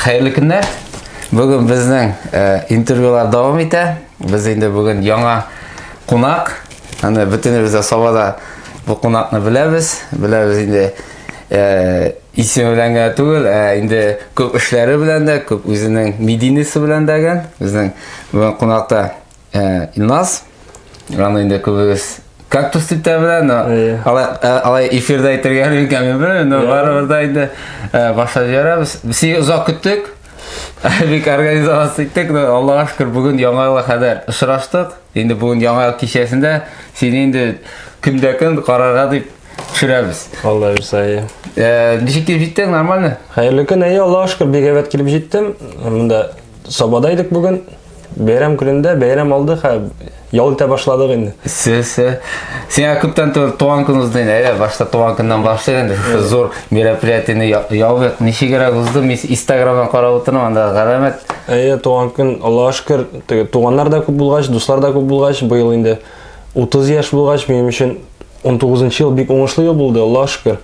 Хәерле көннәр! Бүген безнең э, интервьюлар дәвам итә. Без инде бүген яңа кунак. Аны бөтенебез дә Сабада бу кунакны беләбез. Беләбез инде э, исеме белән генә түгел, ә инде күп эшләре белән дә, күп үзенең медийнесе белән дә гән. Безнең бүген кунакта Э, Илназ, аны инде күбегез кактус дип тә белә, но э, алай эфирда әйтергә өлгермим белмим, но барыбер да инде башлап җибәрәбез. Без сине озак көттек. Бик организация иттек, но Аллага шөкер, бүген яңа елга кадәр очраштык. Инде бүген яңа ел кичәсендә сине инде көндә көн карарга дип төшерәбез. Алла бирсә. Э, ничек килеп җиттең, нормально? Хәерле көн, әйе, Аллага шөкер, бик әйбәт килеп җиттем. Монда Сабада идек бүген. Бәйрәм көнендә бәйрәм алды һәм ял итә башладык инде. Сесе. Сиңа күптән түгел туган көн узды инде. Әйдә, башта туган көннән башлыйк инде. Шушы зур мероприятиене ябыйк. Ничегрәк узды? Мин Инстаграмдан карап утырам, анда галәмәт. Әйе, туган көн, Аллага шөкер, теге туганнар да күп булгач, дуслар да күп булгач, быел инде 30 яшь булгач, минем өчен 19 ел бик уңышлы ел булды, Аллага шөкер.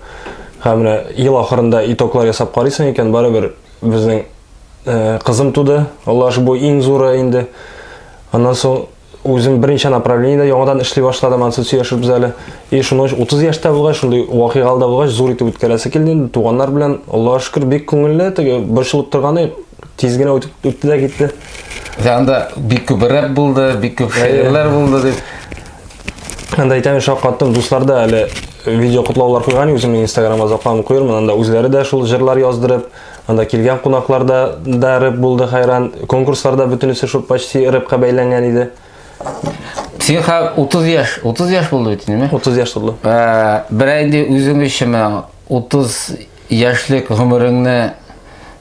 Һәм менә ел ахырында итоглар ясап карыйсың икән, барыбер безнең Э, кызым туды аллаһ шукер бу иң зуры инде аннан соң үзем берничә направлениедә яңадан эшли башладым ансы сөйләшербез әле и шуны 30 яшьтә булгач шундый вакыйгалы да булгач зур итеп үткәрәсе килде инде туганнар белән аллаһ шукер бик күңелле теге борчылып торганы тиз генә үтеп үтте дә китте анда бик күп рэп булды бик күп шигырьләр булды дип анда әйтәм шаккаттым дуслар да әле видео котлаулар куйган үземнең инстаграмга заклам куермын анда үзләре дә шул җырлар яздырып Анда килгән кунаклар да, да рыб булды хәйран. Конкурсларда бөтенесе шул почти рыбка бәйләнгән иде. Син ха 30 яшь, 30 яшь булды бит инде. 30 яшь булды. Ә, бер инде үзең өчен 30 яшьлек гомереңне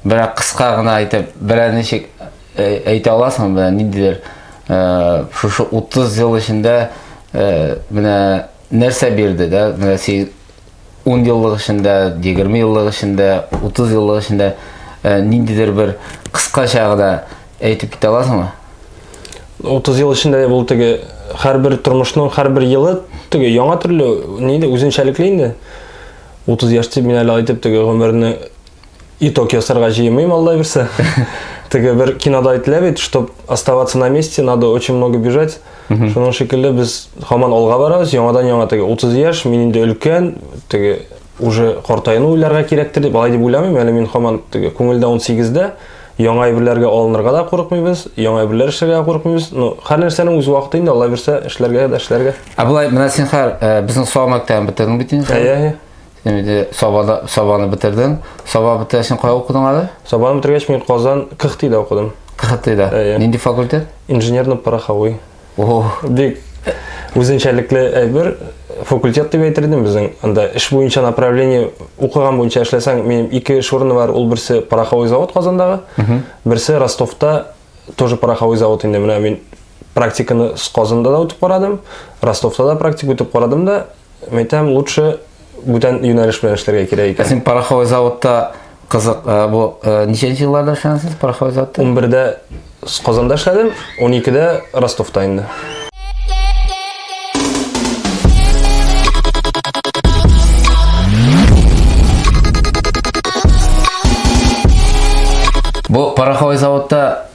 бер кыска гына әйтеп, бер ничек әйтә аласың бер ниндидер шушы 30 ел эчендә менә нәрсә бирде дә, менә син ун еллык эчендә, егерме еллык эчендә, утыз еллык эчендә э, ниндидер бер кыскача гына әйтеп китә аласыңмы? Утыз ел эчендә дә бул теге һәрбер тормышның һәрбер елы теге яңа төрле нидә үзенчәлекле инде. Утыз яшь дип мин әле әйтеп теге гомерне Итог ясарга җыемыйм, алла бирсә. Теге бер кинода әйтелә бит, чтобы оставаться на месте, надо очень много бежать. Шуның шикелле без һаман алга барабыз, яңадан яңа теге 30 яшь, мин инде өлкән, теге уже картайну уйларга кирәктер дип, алай дип уйламыйм, әле мин һаман теге күңелдә 18-дә, яңа әйберләргә алынырга да курыкмыйбыз, яңа әйберләр эшләргә курыкмыйбыз. Ну, һәр нәрсәнең үз вакыты инде, алла бирсә, эшләргә дә эшләргә. Ә болай, менә син хәр, безнең салмактан бетердең бит инде. Әйе, әйе. Син инде Сабада Сабаны бетердең. Саба бетергәч кая укыдың әле? Сабаны бетергәч мин Казан КХТИда укыдым. КХТИда. Әйе. Нинди факультет? Инженерно-пороховой. О, бик үзенчәлекле әйбер факультет дип әйтер идем безнең анда эш буенча направление укыган буенча эшләсәң минем ике эш урыны бар ул берсе пороховой завод казандагы берсе ростовта тоже пороховой завод инде менә мин практиканы казанда да үтеп карадым ростовта да практика үтеп карадым да Мин әйтәм, лучше бүтән юнәлеш белән эшләргә кирәк икән. Ә син пороховой заводта кызык, э, бу э, ничәнче елларда эшләгәнсез пороховой заводта? 11-дә Казанда эшләдем, 12-дә Ростовта инде. Бу пороховой заводта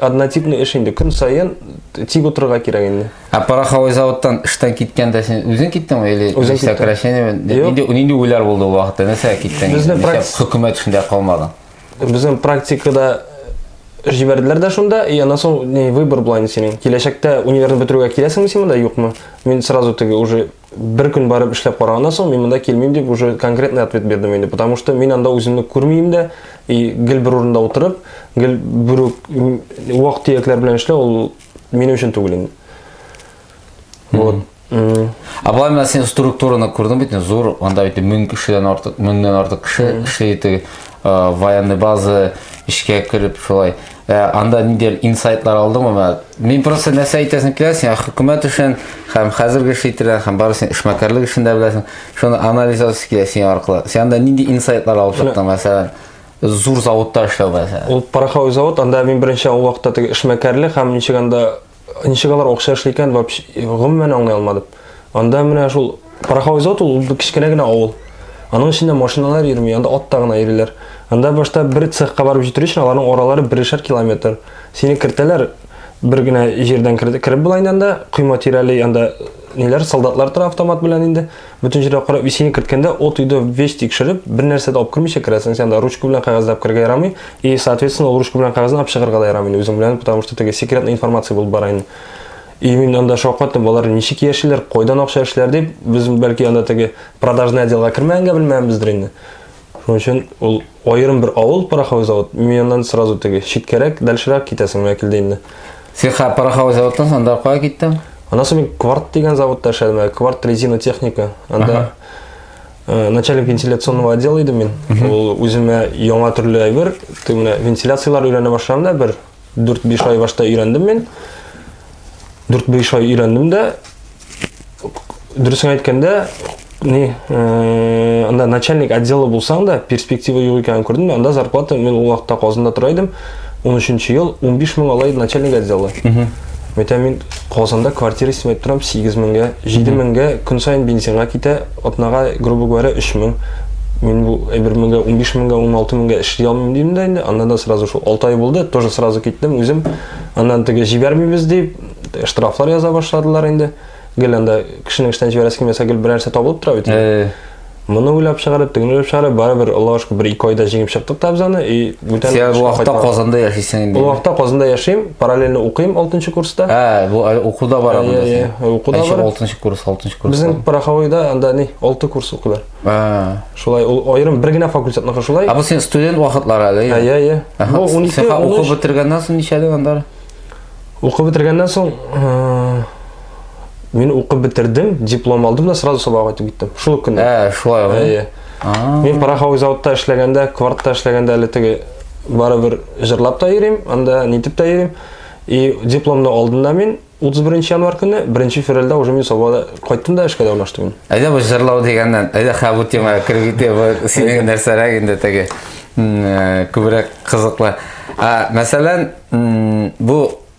Однотипный эш инде, көн саен тик утырырга кирәк инде. Ә пороховой заводтан эштән киткәндә син үзең киттеңме или үзең сокращение нинди нинди уйлар булды ул вакытта? Нәрсә киттең? Безнең практика хөкүмәт эшендә калмадың. Безнең практикада җибәрделәр дә шунда, и аннан соң не выбор була инде синең. Киләчәктә универны бетерүгә киләсеңме син монда, юкмы? Мин сразу теге уже бер көн барып эшләп караганнан соң мин монда килмим дип уже конкретный ответ бирдем инде потому что мин анда үземне күрмим дә и гел бер урында утырып гел бер вак төякләр белән эшләү ул минем өчен түгел инде вот а былай менә син структураны күрдең бит зур анда бит мең кешедән артык меңнән артык кеше эшли теге военный база эшкә кереп шулай Ә, анда ниндидер инсайтлар алдыңмы? Менә Мин просто нәрсә әйтәсем килә, син хөкүмәт эшен һәм хәзерге эш итергән һәм барысын эшмәкәрлек эшен дә беләсең. Шуны анализ итәсе килә син аркылы. Син анда нинди инсайтлар алып чыктың, мәсәлән, зур заводта эшләү мәсәлән. Ул пороховой завод, анда мин беренче ул вакытта теге эшмәкәрлек һәм ничек анда Ничек алар акча эшли икән, гомумән аңлый алмадым. Анда менә шул Парахаузот ул кечкенә генә авыл. Аның эчендә машиналар йөрми, анда атта гына йөриләр. Анда башта бер цехка барып җитер өчен аларның аралары берешәр километр. Сине кертәләр, бер генә җирдән кереп була инде анда, койма тирәли анда ниләр, солдатлар тора автомат белән инде. Бөтен җиргә карап исеңә керткәндә, от өйдә весь тикшереп, бер нәрсә дә алып кермичә керәсең, сиңа да ручка белән кәгазьләп керергә ярамый, и, соответственно, ул ручка белән кәгазьне алып чыгарга да ярамый инде үзең белән, потому что теге секретная информация булып бара инде. И мин анда шаккаттым, балалар ничек яшиләр, кайдан акча эшлиләр дип, без бәлки анда теге продажный отделга кермәгәнгә белмәгәнбездер инде. Шуның өчен ул аерым бер авыл пороховой завод, миннан сразу теге читкәрәк, дальшерак китәсең менә килде инде. Син хә пороховой заводтан соң анда кая киттең? Аннан соң мин Кварт дигән заводта эшләдем, ә Кварт резина техника. Анда э, начальник вентиляционного отдела идем мин. Ул үземә яңа төрле әйбер, тегенә вентиляцияләр өйрәнә башладым да бер 4-5 ай башта өйрәндем мин. 4-5 ай өйрәндем дә дөресен әйткәндә, не э, анда начальник отделы булсаң да перспектива юк икәнен күрдем анда зарплата мин ул вакытта казанда тора идем 13 ел 15 мең алай начальник отделы Мәйтәм мин Казанда квартира снимать торам 8 меңгә, 7 меңгә көн сайын бензинга китә, Атнага, грубо говоря, өч мең. Мин бу бер меңгә, унбиш меңгә, уналты меңгә эшли алмыйм дидем дә инде. Аннан да сразу шул алты ай булды, тоже сразу киттем үзем. Аннан теге җибәрмибез дип, штрафлар яза башладылар инде. Гел анда кешенең эштән җибәрәсе килмәсә, гел берәрсе табылып тора бит. Моны уйлап чыгарып, тегене уйлап чыгарып, барыбер, Аллага шөкер, бер-ике айда җиңеп чыктык та без аны. И Бүтән Син бу вакытта Казанда яшисең инде. Бу вакытта Казанда яшим, параллельно укыйм 6 курста. Ә, бу э, укуда бар анда. Әйе, әйе, укуда бар. 6 курс, 6 курс. Безнең Пороховойда анда ни, 6 курс укыйлар. Ә. Шулай ул аерым бер генә факультетныкы шулай. Ә бу син студент вакытлары әле. Әйе, әйе. Бу 12 Син укып бетергәннән соң ничә дигән анда? Укып бетергәннән соң э, мин укып бетердем, диплом алдым да сразу сабак итеп киттем. Шул көнне. Ә, шулай. Әйе. Мин пороховой заводта эшләгәндә, квартта эшләгәндә әле теге барыбер җырлап та йөрим, анда нитеп тә йөрим. И дипломны алдым да мин 31 январь көне, 1 февральдә уже мин Сабада кайттым да эшкә дә урнаштым мин. Әйдә бу җырлау дигәннән, әйдә хә бу темага кереп китә, бу синең нәрсәрәк инде теге э, күбрәк кызыклы. Ә мәсәлән, бу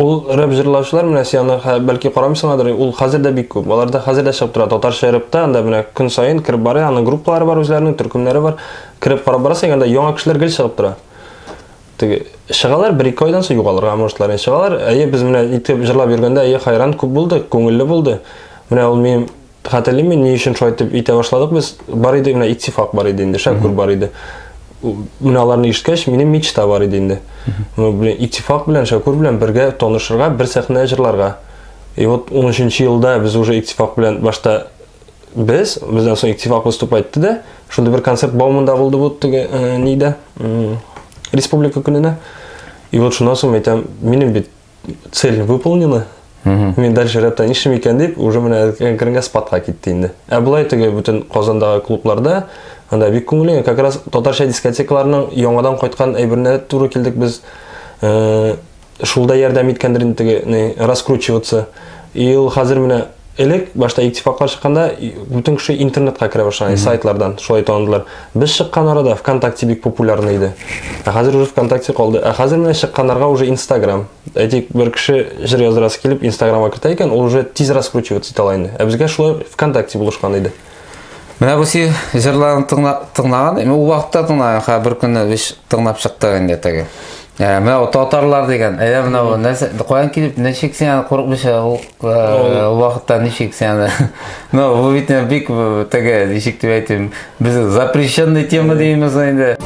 Ул рэп җырлаучылар менә сианар хә бәлки карамыйсыңадыр ул хәзер дә бик күп. Аларда хәзер дә чыгып тора татарча рэпта анда менә көн саен кереп барый аның группалары бар үзләренең төркемнәре бар. Кереп карап барасың анда яңа кешеләр гел чыгып тора. Теге чыгалар бер ике айдан соң югалырга можетлар ин чыгалар әйе без менә итеп җырлап йөргәндә әйе хайран күп булды күңелле булды. Менә ул минем Хәтерлим мин, ни өчен шулай итеп итә башладык без. Бар иде генә иттифак бар иде инде, шәкүр бар иде. Менә аларны ишеткәч, минем мечта бар иде инде. Ну, блин, иттифак белән, шәкүр белән бергә танышырга, бер сәхнә җырларга. И вот 13 елда без уже иттифак белән башта без, бездән соң иттифак выступа итте дә, шундый бер концерт Баумында булды бу теге э, нидә, республика көненә. И вот шуннан соң әйтәм, минем бит цель выполнена Мин дальше рәттән нишлим икән дип, уже менә әкренге спадка китте инде. Ә болай теге бөтен Казандагы клубларда анда бик күңелле, как раз татарча дискотекаларның яңадан кайткан әйберенә туры килдек без. Э, шулда ярдәм иткәндер инде теге раскручиваться. И ул хәзер менә Элек башта иттифаклар чыкканда бүтән кеше интернетка керә башлаган, сайтлардан шулай таныдылар. Без чыккан арада ВКонтакте бик популярный иде. Ә хәзер уже ВКонтакте калды. Ә хәзер менә чыкканнарга уже Инстаграм. Әйтик, бер кеше җыр яздырасы килеп Инстаграмга кертә икән, ул уже тиз раскручиваться итә ала инде. Ә безгә шулай ВКонтакте булышкан иде. Менә бу си җырларын тыңлаган, ул вакытта тыңлаган, хә бер көнне биш тыңлап чыкты инде теге. Ә, менә ул татарлар дигән, әйе менә ул нәрсә, каян килеп, ничек син аны курыкмыйча ул э, вакытта ничек син аны. Ну, бу бит бик э, теге, ничек дип әйтим, без запрещенный тема деймиз инде.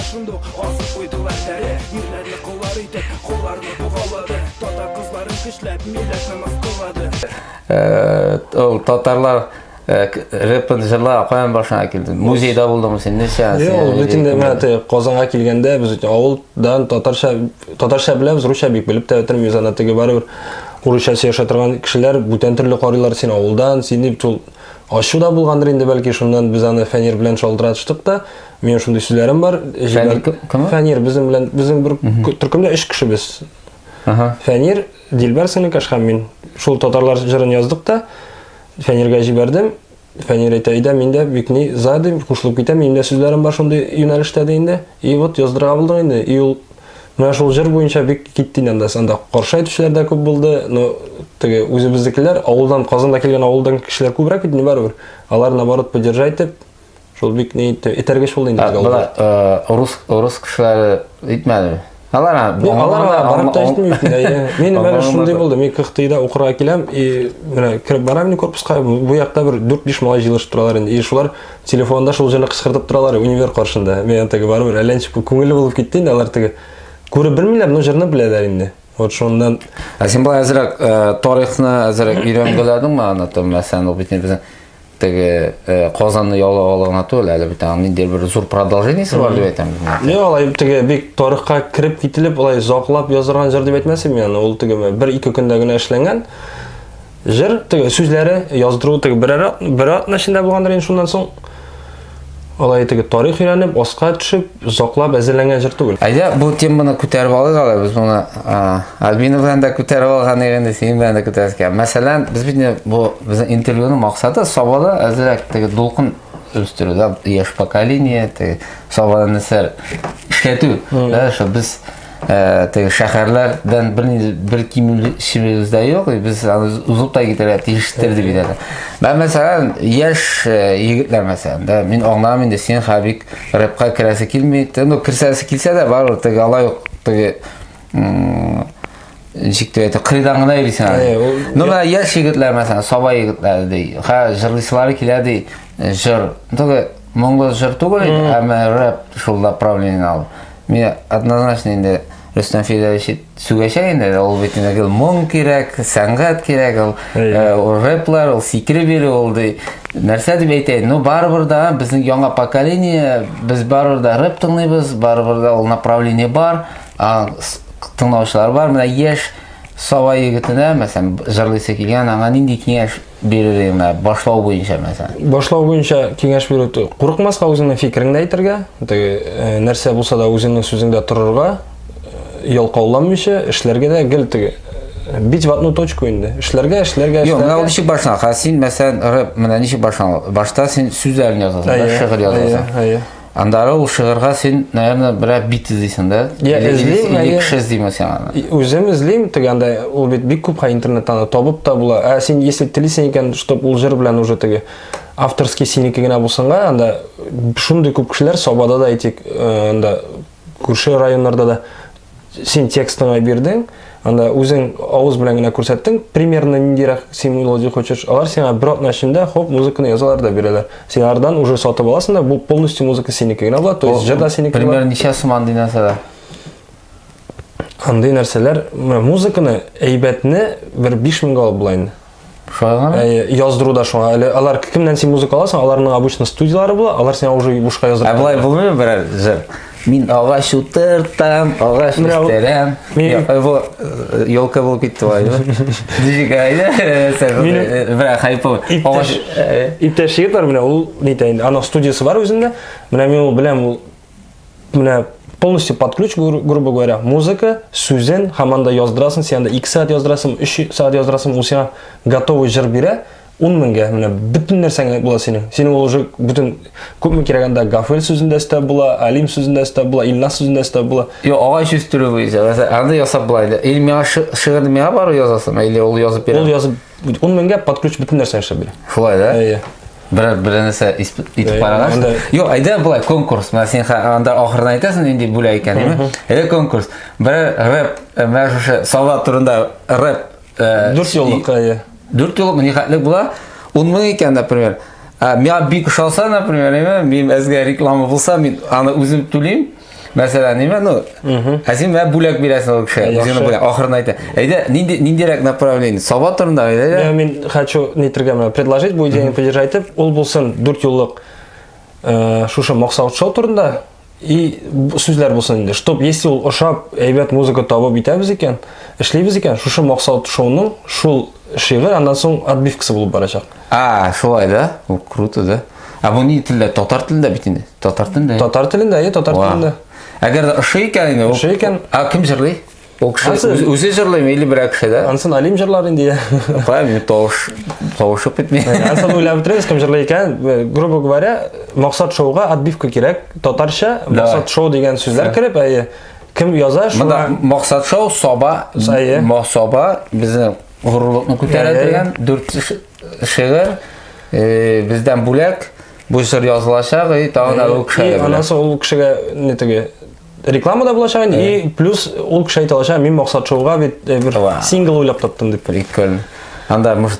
Шундук асып куйдылар тәре, ирләрне куллар итеп, кулларны Ул татарлар рэпын жырлап каян башыңа килде? Музейда булдыңмы син? Нәрсә? Юк, бөтен мәте Казанга килгәндә без авылдан татарча татарча беләбез, русча бик белеп тә бетермим, үзана теге барыбер урысча сөйләшә торган кешеләр бүтән төрле карыйлар син авылдан, син дип ул ачу да булгандыр инде бәлки шуннан без аны фәнир белән шалтыратыштык та Мин шундый сүзләрем бар. Фәнир кем? Фәнир безнең белән безнең бер төркемдә 3 кеше без. Ага. Фәнир, Дилбәр Сыныкаш һәм мин. Шул татарлар җырын яздык та Фәниргә җибәрдем. Фәнир әйтә, "Идә мин дә бик ни задым, кушылып китәм, минем дә сүзләрем бар шундый юнәлештә" ди инде. И вот яздырга булдык инде. И ул менә шул җыр буенча бик китте инде анда. Анда каршы әйтүчеләр дә күп булды. Но теге үзебезнекеләр авылдан Казанда килгән авылдан кешеләр күбрәк бит инде барыбер. Алар наоборот поддержать итеп Шул бик ни этәргеч булды инде тик алар. Э, рус рус кешеләре итмәде. Алар алар барып та җитми бит инде. Мин менә шундый булды. Мин Кыхтыйда укырга киләм и менә кереп барам мин корпуска. Бу якта бер 4-5 малай җыелышып торалар инде. И шулар телефонда шул җырны кычкыртып торалар универ каршында. Мен теге бар бер әллә ничек күңелле булып китте инде алар теге. Күреп белмиләр, но җырны беләләр инде. Вот шуннан. Ә син бу әзрәк э, тарихны әзрәк өйрәнгәләдеңме аны там мәсәлән, бит безнең теге э, Казанны яулап алу гына түгел, әле бит аның ниндидер бер зур продолжениесе бар дип әйтәм. Ни алай теге бик тарихка кереп кителеп, алай заклап язылган җыр дип әйтмәсем мин аны, ул теге бер ике көндә генә эшләнгән. Җыр теге сүзләре яздыру теге бер бер атна эчендә булгандыр инде шуннан соң Алай итегез, тарих өйрәнеп, аска төшеп, заклап әзерләнгән җыр түгел. Әйдә, бу теманы күтәреп алыйк әле, без моны Альбина белән дә күтәреп алган идек, инде синең белән дә күтәрәбез икән. Мәсәлән, без бит бу безнең интервьюның максаты Сабада әзрәк теге дулкын үстерү, да, яшь поколение, теге Сабада нәрсә эшләтү, да, что без Э, теге шәһәрләрдән бер бер кимүлчебез дә юк без аны узып та китәргә тиештер дип әйтәләр мен мәсәлән яшь э, егетләр мәсәлән да мин аңламыйм инде син хабик рэпка керәсе килми ну керсәсе килсә дә барыбер теге алай ук теге ничек дип әйтә кырыйдан гына йөрисең әле ну менә яшь егетләр мәсәлән саба егетләр ди хәзер җырлыйсылары килә ди э, җыр Моңлы җыр түгел инде, әмма рэп шул направление алып. Мин однозначно инде Рөстәм Филәвич сүгәчәк инде, ул бит инде гел моң кирәк, сәнгать кирәк, ул э, ул рэплар, ул сикри бирү ул ди. Нәрсә дип әйтәйен? Ну барыбер да безнең яңа поколение, без барыбер да рэп тыңлыйбыз, барыбер да ул направление бар, а, с- тыңлаучылар бар. Менә яшь Сава егетенә, мәсәлән, җырлыйсы килгән, аңа нинди киңәш бирер идең менә башлау буенча мәсәлән башлау буенча киңәш бирү курыкмаска үзеңнең фикереңне әйтергә теге э, нәрсә булса да үзеңнең сүзеңдә торырга э, ялкауланмыйча эшләргә дә гел теге э, бить в одну точку инде эшләргә эшләргә юк менә ул ничек башлана хәзер син мәсәлән рэп менә ничек башлана башта син сүзләрен язасың шигырь язасың Андары ул шыгырга син, наверное, берәр бит эзлисең да? Я эзлим, или кеше эзлиме сиңа? Үзем эзлим, теге анда ул бит бик күп интернеттан да табып та була. Ә син если телисең икән, чтобы ул җыр белән уже теге авторский синеке генә булсынга, анда шундый күп кешеләр Сабада да әйтик, э, анда күрше районнарда да Син текстыңа бирдең, анда үзең авыз белән генә күрсәттең, примерно ниндирәк син мелодия хочешь, алар сиңа бер атна эчендә хоп музыканы язалар да бирәләр. Син алардан уже сатып аласың да, бу полностью музыка синеке генә була, то есть җыр да синеке була. Примерно ничә сум андый нәрсәләр? Андый нәрсәләр, музыканы әйбәтне бер 5000 алып була инде. Шулай гына? Ә, яздыру да шуңа. Әле алар кемнән син музыка аласың? Аларның обычно студияләре була, алар сиңа уже бушка яздырып. Ә болай булмыймы берәр җыр? Мин агач утыртам, агач Менә ул- үстерәм. Мин- Йо- э, Бу э, елка булып китте бай. Дижик айда. Минем- Бра хайпы. Иптәш, Агач. э, иптәш егет бар менә ул нитә инде. Аның студиясе бар үзендә. Менә мин ул беләм ул менә полностью под ключ, грубо говоря, музыка, сүзен, һәм анда яздырасың, сен анда 2 сәгать яздырасың, 3 сәгать яздырасың, ул сиңа готовый җыр бирә, 10 меңгә, менә бөтен нәрсәңә була синең. Синең ул уже бөтен күпме кирәк анда Гафел сүзендә өстә була, Алим сүзендә өстә була, Илнас сүзендә өстә була. Йо, агач үстерү буенча, анда ясап була иде. Или миңа шигырь миңа бару язасың, или ул язып бирә. Ул язып 10 меңгә под ключ бөтен нәрсә эшләп бирә. Шулай да? Әйе. Берәр берәр нәрсә итеп караган. Юк, әйдә болай конкурс. Менә син анда ахырдан әйтәсең нинди бүләк икәнен. Әйдә конкурс. Берәр рэп, э, менә шушы солдат турында рэп. Э, Дүрт юллык, әйе. Дүрт юллык ни хәтле була? 10 мең икән, например. Ә миңа бик ошаса, например, мин әзгә реклама булса, мин аны үзем түлим. Мәсәлән, ниме, ну, ә син мә бүләк бирәсең ул кеше, үзеңне бүләк, ахырын әйтә. Әйдә, нинди, ниндирәк направление? Саба турында, әйдә. Я, мин хочу нитргә мә, предложить, бу идеяны поддержать итеп, ул булсын дүрт юллык э, шушы Моксаут шоу турында, и сүзләр булсын инде. Чтоб, если ул ошап, әйбәт музыка табып итәбез икән, эшлибез икән, шушы Моксаут шоуның шул Шигырь аннан соң отбивкасы булып барачак. А, шулай да? Бу круто да. А бу ни телдә? Татар телендә бит инде. Татар телендә. Татар телендә, әйе, татар телендә. Әгәр дә ошый икән инде. Ошый икән. А кем җырлый? Ул кеше үзе җырлыймы или берәр кеше дә? Ансын Алим җырлар инде. Правильно, тавыш тавышып бетми. Ансын уйлап бетерегез, кем җырлый икән? Э, грубо говоря, Максат шоуга отбивка кирәк. Татарча Максат шоу дигән сүзләр кереп, әйе. Кем яза шуңа? Монда Максат Шоу, Саба, Сае. Ма- Саба безнең горурлыкны күтәрә Әйе. дигән дүрт ш- шигырь э, бездән бүләк бу җыр язылачак и тагын да ул кеше И белән. анасы ул кешегә не теге реклама да булачак инде и плюс ул кеше әйтә алачак мин максат шоуга бит э, бер Ва. сингл уйлап таптым дип Прикольно. Анда может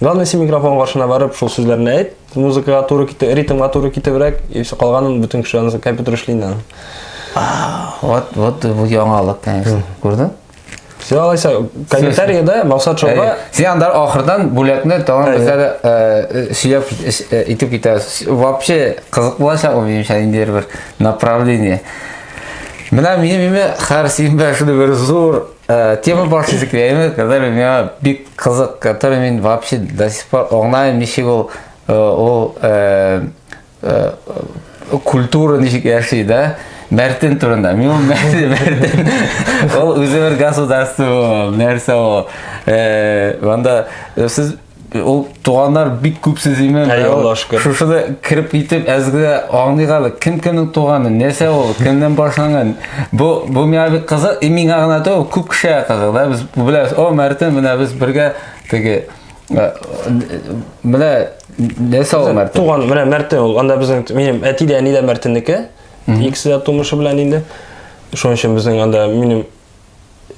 Главное, син микрофон каршына барып, шул сүзләрне әйт, музыкага туры китеп, ритмга туры китебрәк, и все, калганын бөтен кеше аны компьютер эшли инде аны. Вот, вот бу яңалык, конечно. Күрдең? Сен алайса, комментариядә Максат Шоуга... Сен анда ахырдан бүләкне тагын бездә дә э, сөйләп э, итеп китәбез. Вообще кызык булачак ул минемчә инде бер направление. Менә минем име хәр симбә шуны бер зур Э, тема бар сезгә когда меня бик кызык который мен вообще до сих пор оңнайым ничек ул э, ул э, культура ничек яши да мәртен турында мен ул мәртен мәртен ул үзе бер государство нәрсә ул анда сез Ул туганнар бик күп сезиме? Әй, Аллаһ шөкер. Шушы да кирип китеп әзгә аңлыйк әле. Кем кемнең туганы, нәрсә ул, кемнән башланган? Бу бу миңа бик кызык, и миңа гына түгел, күп кешегә кызык. Да без беләбез, о, Мәртин менә без бергә теге э, менә нәрсә ул Мәртин? Туган менә Мәртин ул. Анда безнең минем әти дә, әни дә Мәртиннеке. Икесе дә тумышы белән инде. Шуның өчен безнең анда минем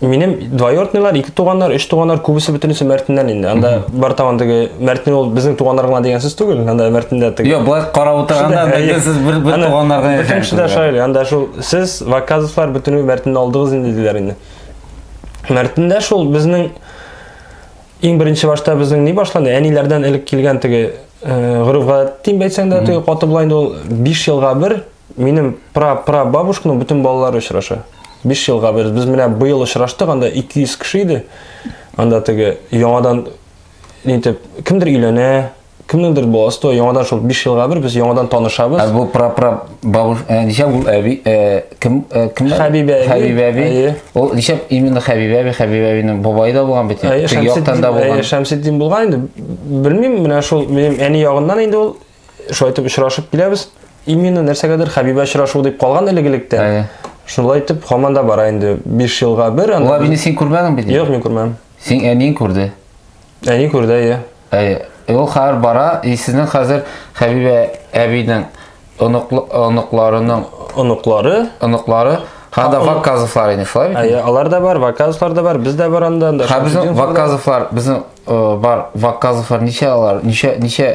Минем двоюродныйлар, ике туганнар, өч туганнар, күбесе бөтенесе Мәртиннән инде. Анда бар тагын теге Мәртин ул безнең туганнар гына дигән сүз түгел. Анда Мәртиндә теге. Юк, болай карап утырганда әйе. сез бер бер Аны туганнарга Бөтен яшәгән кеше дә шулай. шулай. Анда шул сез Ваказовлар бөтенесе Мәртинне алдыгыз инде диләр инде. Мәртиндә шул безнең иң беренче башта безнең ни башланды? Әниләрдән элек килгән теге э, гореф-гадәт дим әйтсәң дә, теге каты була инде ул 5 елга бер Минем пра-пра-бабушканың бөтен балалары очраша. 5 елга без без менә быел очраштык, анда 200 кеше иде. Анда теге яңадан нитеп кемдер өйләнә, кемнеңдер баласы туа, яңадан шул 5 елга бер без яңадан танышабыз. Ә бу пра-пра бабуш, ә, ничә ул әби, ә, кем, ә, кем? Хәбибә әби. Хәбибә әби. Әйе. Ул ничә именно Хәбибә әби, Хәбибә әбинең бабае да булган бит. Әйе, Теге яктан Шәмсетдин, да әйе, булган. Шәмсетдин булган инде. Белмим, менә шул минем әни ягыннан инде ул шулай итеп очрашып киләбез именно нәрсәгәдер хәбибә очрашу дип калган элек-электә Әйе. шулай итеп һаман да бара инде биш елга бер ул анда әбине син күрмәдең бит юк мин күрмәдем син әниең күрде әни күрде әйе әйе Э, ул хәзер бара и сезнең хәзер хәбибә әбинең оныклы оныкларының оныклары оныклары һәм дә ваказовлар иде шулай бит әйе алар да бар ваказовлар да бар без дә бар анда анда Һәм безнең Шамсутдиновлар да бар. ваказовлар безнең Бар вакказовлар ничә алар? Ничә ничә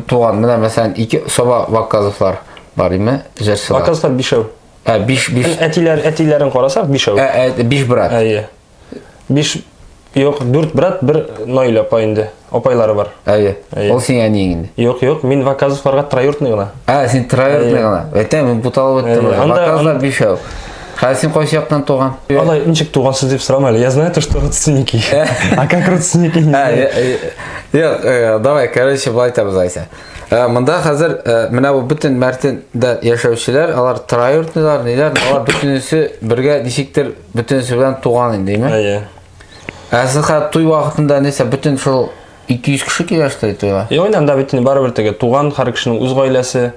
туган? Менә мәсәлән, ике соба вакказовлар бар име? Җырчылар. Вакказовлар бишәү. Ә, биш, биш. Әтиләр, әтиләрен карасак, бишәү. Ә, ә, биш брат. Әйе. Биш, юк, дүрт брат, бер Наиль апа инде. Апайлары бар. Әйе. Ол син әни инде. Юк, юк, мин вакказовларга троюртный гына. Ә, син троюртный гына. Әйтәм, мин буталып өттем. Вакказовлар бишәү. Хәзер син кайсы яктан туган? Алай ничек тугансыз дип сорама әле. Я знаю то, что родственники. А как родственники? не Ә, знаю. е- е- Юк, э, давай, короче, былай итәбез Айсә. Э, Монда хәзер э, менә бу бөтен Мәртендә яшәүчеләр, алар троюртныйлар, ниләр, алар бөтенесе бергә ничектер бөтенесе белән туган инде, димме? Әйе. Ә сез хәзер туй вакытында нәрсә бөтен шул 200 кеше килә что тойга и ойнан да бит барыбер теге туган һәр кешенең үз гаиләсе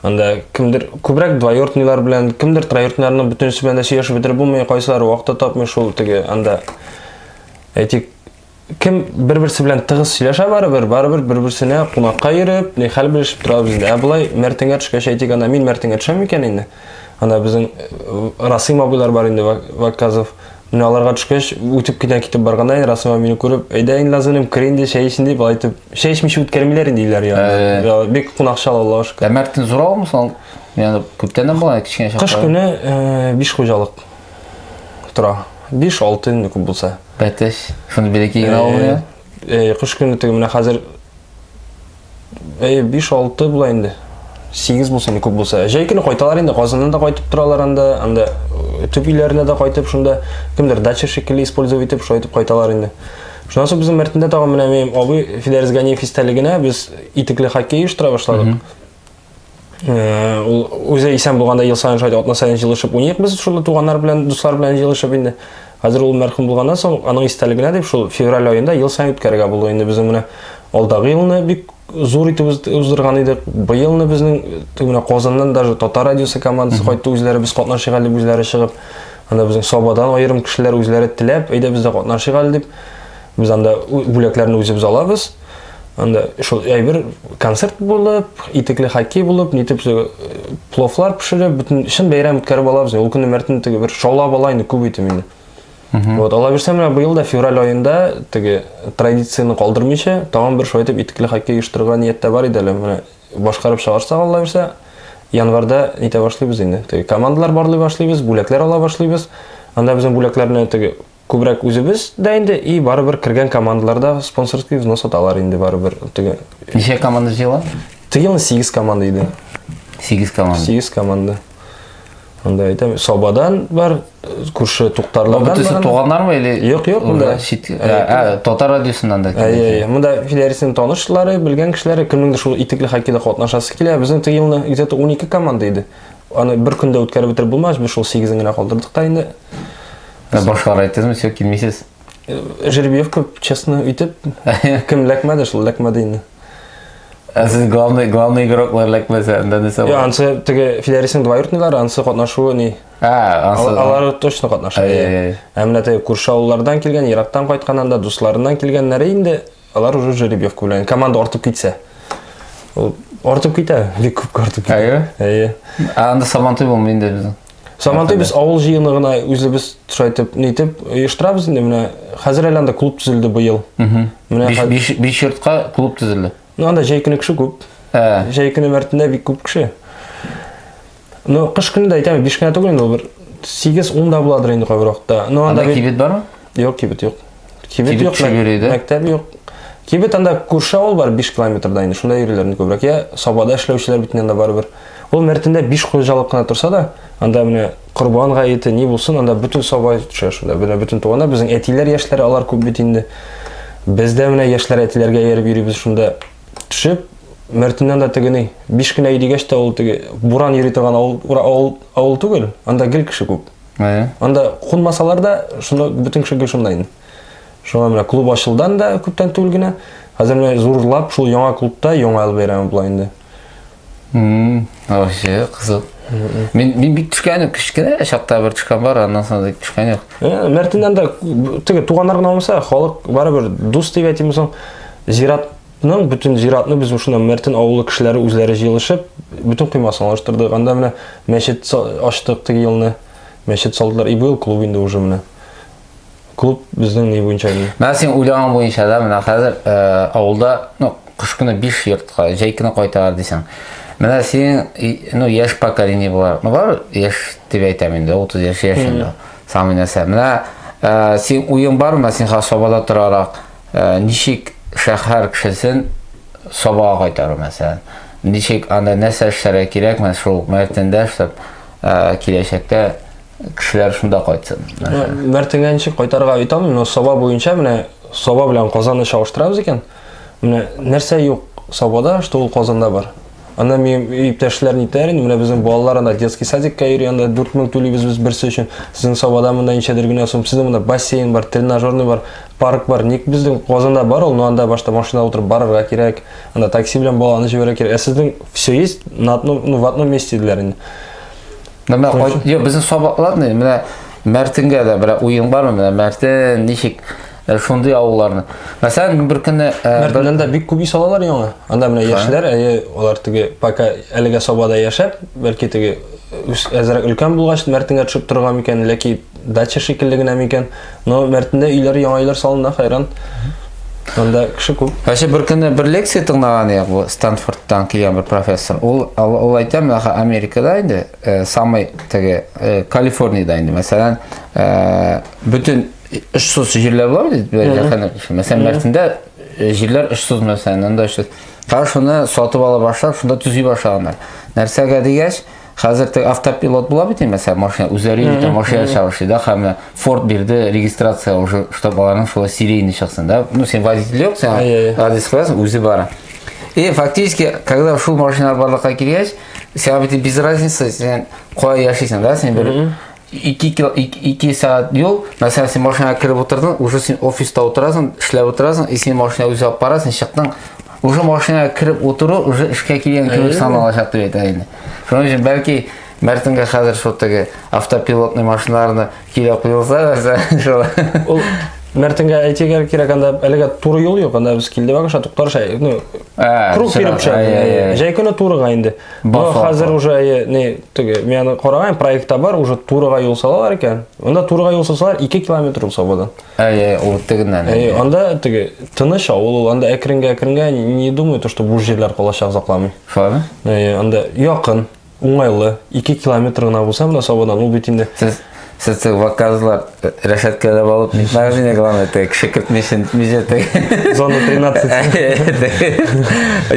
анда кемдер күбрәк двоюродныйлар белән кемдер троюродныйларның бөтенесе белән дә сөйләшеп бетереп булмый кайсылары вакыты тапмый шул теге анда әйтик кем бер берсе белән тыгыз сөйләшә барыбер барыбер бер берсенә кунакка йөреп ни хәл белешеп торабыз инде ә болай мәртеңгә төшкәч әйтик анда мин мәртеңгә төшәм микән инде анда безнең расыйм абыйлар бар инде ваказов Менә аларга төшкәч, үтеп кенә китеп барганда, инде Расыйма мине күреп, әйдә инде Лазунем, кер инде, чәй эчен дип, алай итеп, чәй эчмичә үткәрмиләр инде өйләр янына. Ә. Я, Бик кунакчыл Аллага шөкер. Ә Мәртин зур авылмы соң? Яны күптәннән була кечкенә чакта. Кыш көне э, биш хуҗалык тора. Биш, алты инде күп булса. Бәтәш. Шуны бирәки генә авылы. Э, кыш көне теге менә хәзер әйе биш алты була инде сигез булса не күп булса җәй көне кайталар инде казаннан да кайтып торалар анда анда э, төп өйләренә дә кайтып шунда кемдер дача шикелле использовать итеп шулай итеп кайталар инде шуннан соң безнең мәртендә тагын менә минем абый фидәрес ганиев истәлегенә без итекле хоккей оештыра башладык ул үзе исән булганда ел саен шулай атна саен җылышып уйныйк без шул туганнар белән дуслар белән җылышып инде хәзер ул мәрхүм булганнан соң аның истәлегенә дип шул февраль аенда ел саен үткәрергә булды инде безнең менә алдагы елны бик зур итеп уздырган идек быелны безнең менә казаннан даже татар радиосы командасы кайтты үзләре без катнашыйк әле үзләре чыгып анда безнең сабадан аерым кешеләр үзләре теләп әйдә без дә катнашыйк әле дип Без анда бүләкләрне үзебез алабыз. Анда шул әйбер концерт булып, итекле хоккей булып, нитеп э, пловлар пешереп, бөтен чын бәйрәм үткәреп алабыз. Ул көне мәртен теге бер шаулап ала инде күп итеп инде. Вот, ала бирсәм, менә быел да февраль айында теге традицияне калдырмыйча, тагын бер шулай итеп итекле хоккей оештырырга нияттә бар иде әле. Менә башкарып чыгарсак, ала бирсә, январда нитә башлыйбыз инде. Теге командалар барлый башлыйбыз, бүләкләр ала башлыйбыз. Анда безнең бүләкләрне теге Күбрәк үзебез дә инде и барыбер кергән командалар да спонсорский взнос аталар инде барыбер. Теге Ничә команда җыела? теге елны 8 команда иде. 8 команда. 8 команда. Анда әйтәм, Сабадан бар, күрше Туктарлардан бар. Бөтесе туганнармы или? Юк, юк, монда. Чит, ә, ә, татар радиосыннан да. Әйе, әйе. Монда Филәрисенең танышлары, белгән кешеләре, кемнеңдер шул итекле хоккейда катнашасы килә. Безнең теге елны где-то 12 команда иде. Аны бер көндә үткәреп бетереп булмас, без шул 8-ен генә калдырдык та инде. Ә башкалар әйттезме, все, килмисез? Э, Жеребьев күп, честно, үйтеп, кем ләкмәде шул, ләкмәде инде. Ә сез главный, главный игроклар ләкмәсә, анда нәрсә Йо, бар? ансы теге филәрисен двоюродныйлар, ансы катнашуы ни? Ә, Ал- ансы... Алар точно катнаша. Ай, ай, ай. Ә менә теге күрше авыллардан килгән, ерактан кайткан анда дусларыннан килгәннәре инде, алар уже жеребьев белән команда артып китсә. Ул артып китә, бик күп артып китә. Әйе. Әйе. Ә анда сабантуй булмый инде безнең. Сабантуй без авыл җыены гына үзебез шулай итеп нитеп оештырабыз инде менә хәзер әле анда клуб төзелде быел. Менә биш йортка клуб төзелде. Ну анда җәй көне кеше күп. Ә. Җәй көне мәртендә бик күп кеше. Ну кыш көне дә әйтәм, биш кенә түгел инде ул бер 8-10 да буладыр инде кайбер вакытта. Ну анда кибет бармы? Юк, кибет юк. Кибет юк, мәктәп юк. Кибет анда күрше авыл бар, 5 километрда инде, шунда йөриләр инде күбрәк. Я Сабада эшләүчеләр бит анда барыбер. Ул Мәртендә 5 хуҗалык кына торса да, анда менә Корбан гаете ни булсын, анда бөтен Саба төшә шунда. Менә бөтен туганнар, безнең әтиләр яшьләре, алар күп бит инде. Без дә менә яшьләр әтиләргә ияреп йөрибез шунда. Төшеп, Мәртеннән дә тегени. 5 кенә дигәч тә ул теге буран йөри торган авыл, авыл, авыл түгел, анда гел кеше күп. Ә. Анда кунмасалар да, шунда бөтен кеше гел шунда инде. Шуңа менә клуб ачылдан да күптән түгел генә. Хәзер менә зурлап шул яңа клубта яңа ел бәйрәме була инде. Мм, вообще кызык. Мин мин бик төшкән юк, кечкенә чакта бер төшкән бар, аннан соң да төшкән юк. Э, Мәртиннән дә теге туганнар гына булмаса, халык барыбер дус дип әйтимме соң, зират Нан бүтін зиратны без ушына Мәртен авылы кешеләре үзләре җыелышып, бүтін коймасын алыштырдык. Анда менә мәчет ачтык теге елны. Мәчет салдылар. И быел клуб инде уже менә. Клуб безнең ни буенча инде. Менә син уйлаган буенча да менә хәзер э, авылда, ну, кыш көне 5 йортка, җәй көне кайталар дисең. Менә синең, ну, яшь поколение булар. Ну, бар яшь дип әйтәм инде, 30 яшь яшендә. Самый нәрсә. Менә э, син уен бар, менә син хас собада торарак. Ә, ничек шәһәр кешесен Сабага кайтару, мәсәлән? Ничек анда нәрсә эшләргә кирәк, менә шул Мәртендә эшләп, ә, киләчәктә кешеләр шунда кайтсын? Мәртенгә ничек кайтарга әйтә алмыйм, но Саба буенча менә Саба белән Казанны чагыштырабыз икән, менә нәрсә юк Сабада, что ул Казанда бар? Анда мин иптәшләр нитәр инде, менә безнең балалар анда детский садикка йөри, анда 4000 түлибез без берсе өчен. Сезнең Сабада монда ничәдер генә сум. Сезнең монда бассейн бар, тренажерный бар, парк бар. Ник безнең Казанда бар ул, но анда башта машина утырып барырга кирәк. Анда такси белән баланы җибәрә кирәк. Ә сезнең все есть на одном, ну, в одном месте диләр инде. Менә кайт, я безнең Саба, ладно, менә Мәртингә дә бер уен бармы? Менә Мәртин ничек Ә шундый авылларны. Мәсәлән, мин бер көнне э, Мәртләндә бик күп ис алалар яңа. Анда менә яшьләр, әйе, алар теге пока әлегә Сабада яшәп, бәлки теге әзрәк өлкән булгач Мәртенгә төшеп торган микән, ләки дача шикелле генә микән. Но Мәртендә өйләр, яңа өйләр салына, хайран. Анда кеше күп. Әшә бер көнне бер лекция тыңлаган идек бу Стэнфордтан килгән бер профессор. Ул ул әйтә, менә Америкада инде, э, самый теге э, Калифорниядә инде, мәсәлән, э, бөтен Очсыз җирләр бар бит, бәләкәне. Мәсәлән, Мәрсиндә э, җирләр очсыз мәсәлән, анда очсыз. Кара шуны сатып ала башлап, шунда төзи башлаганнар. Нәрсәгә дигәч, хәзер тег автопилот була бит инде, мәсәлән, машина үзләре итә машина чабышы, да, һәм Ford бирде регистрация уже, чтобы аларның шулай серийный чыксын, да. Ну, сен водитель юк, сен адрес куясың, үзе бара. И фактически, когда шул машина барлыкка килгәч, сиңа бит без разницы, сен кая яшисең, да, сен бер ике, ике, ике, ике сәгать юл, мәсәлән, син машинага кереп утырдың, уже син офиста утырасың, эшләп утырасың, и син машина үзе алып бара, син чыктың, уже машинага кереп утыру уже эшкә килгән кебек саналачак дип әйтә инде. Шуның өчен бәлки Мәртенгә хәзер шул теге автопилотный машиналарны килә куелса, шул. Ул Мәртенгә әйтергә кирәк, анда әлегә туры юл юк, анда без килдек, агаша туктар шәй, ну, Ә, круг биреп чыга. Ә, ә, ә. Җәй көне турыга инде. Бу хәзер уже әйе, не, теге, мин аны караган, проектта бар, уже турыга юл салалар икән. Монда турыга юл салсалар 2 километр юл сабадан. Әйе, ул тегеннән. Әйе, анда теге тыныч авыл ул, анда әкренгә әкренгә не думаю, то что бу җирләр калачак закламый. Фаны? Әйе, анда якын. Уңайлы, 2 километр гына булса, менә Сабадан ул бит инде. Сез сез заказлар э, рәшәткәләп алып, мәгънә главное, теге кеше кертмешен мизәтә. Зона 13.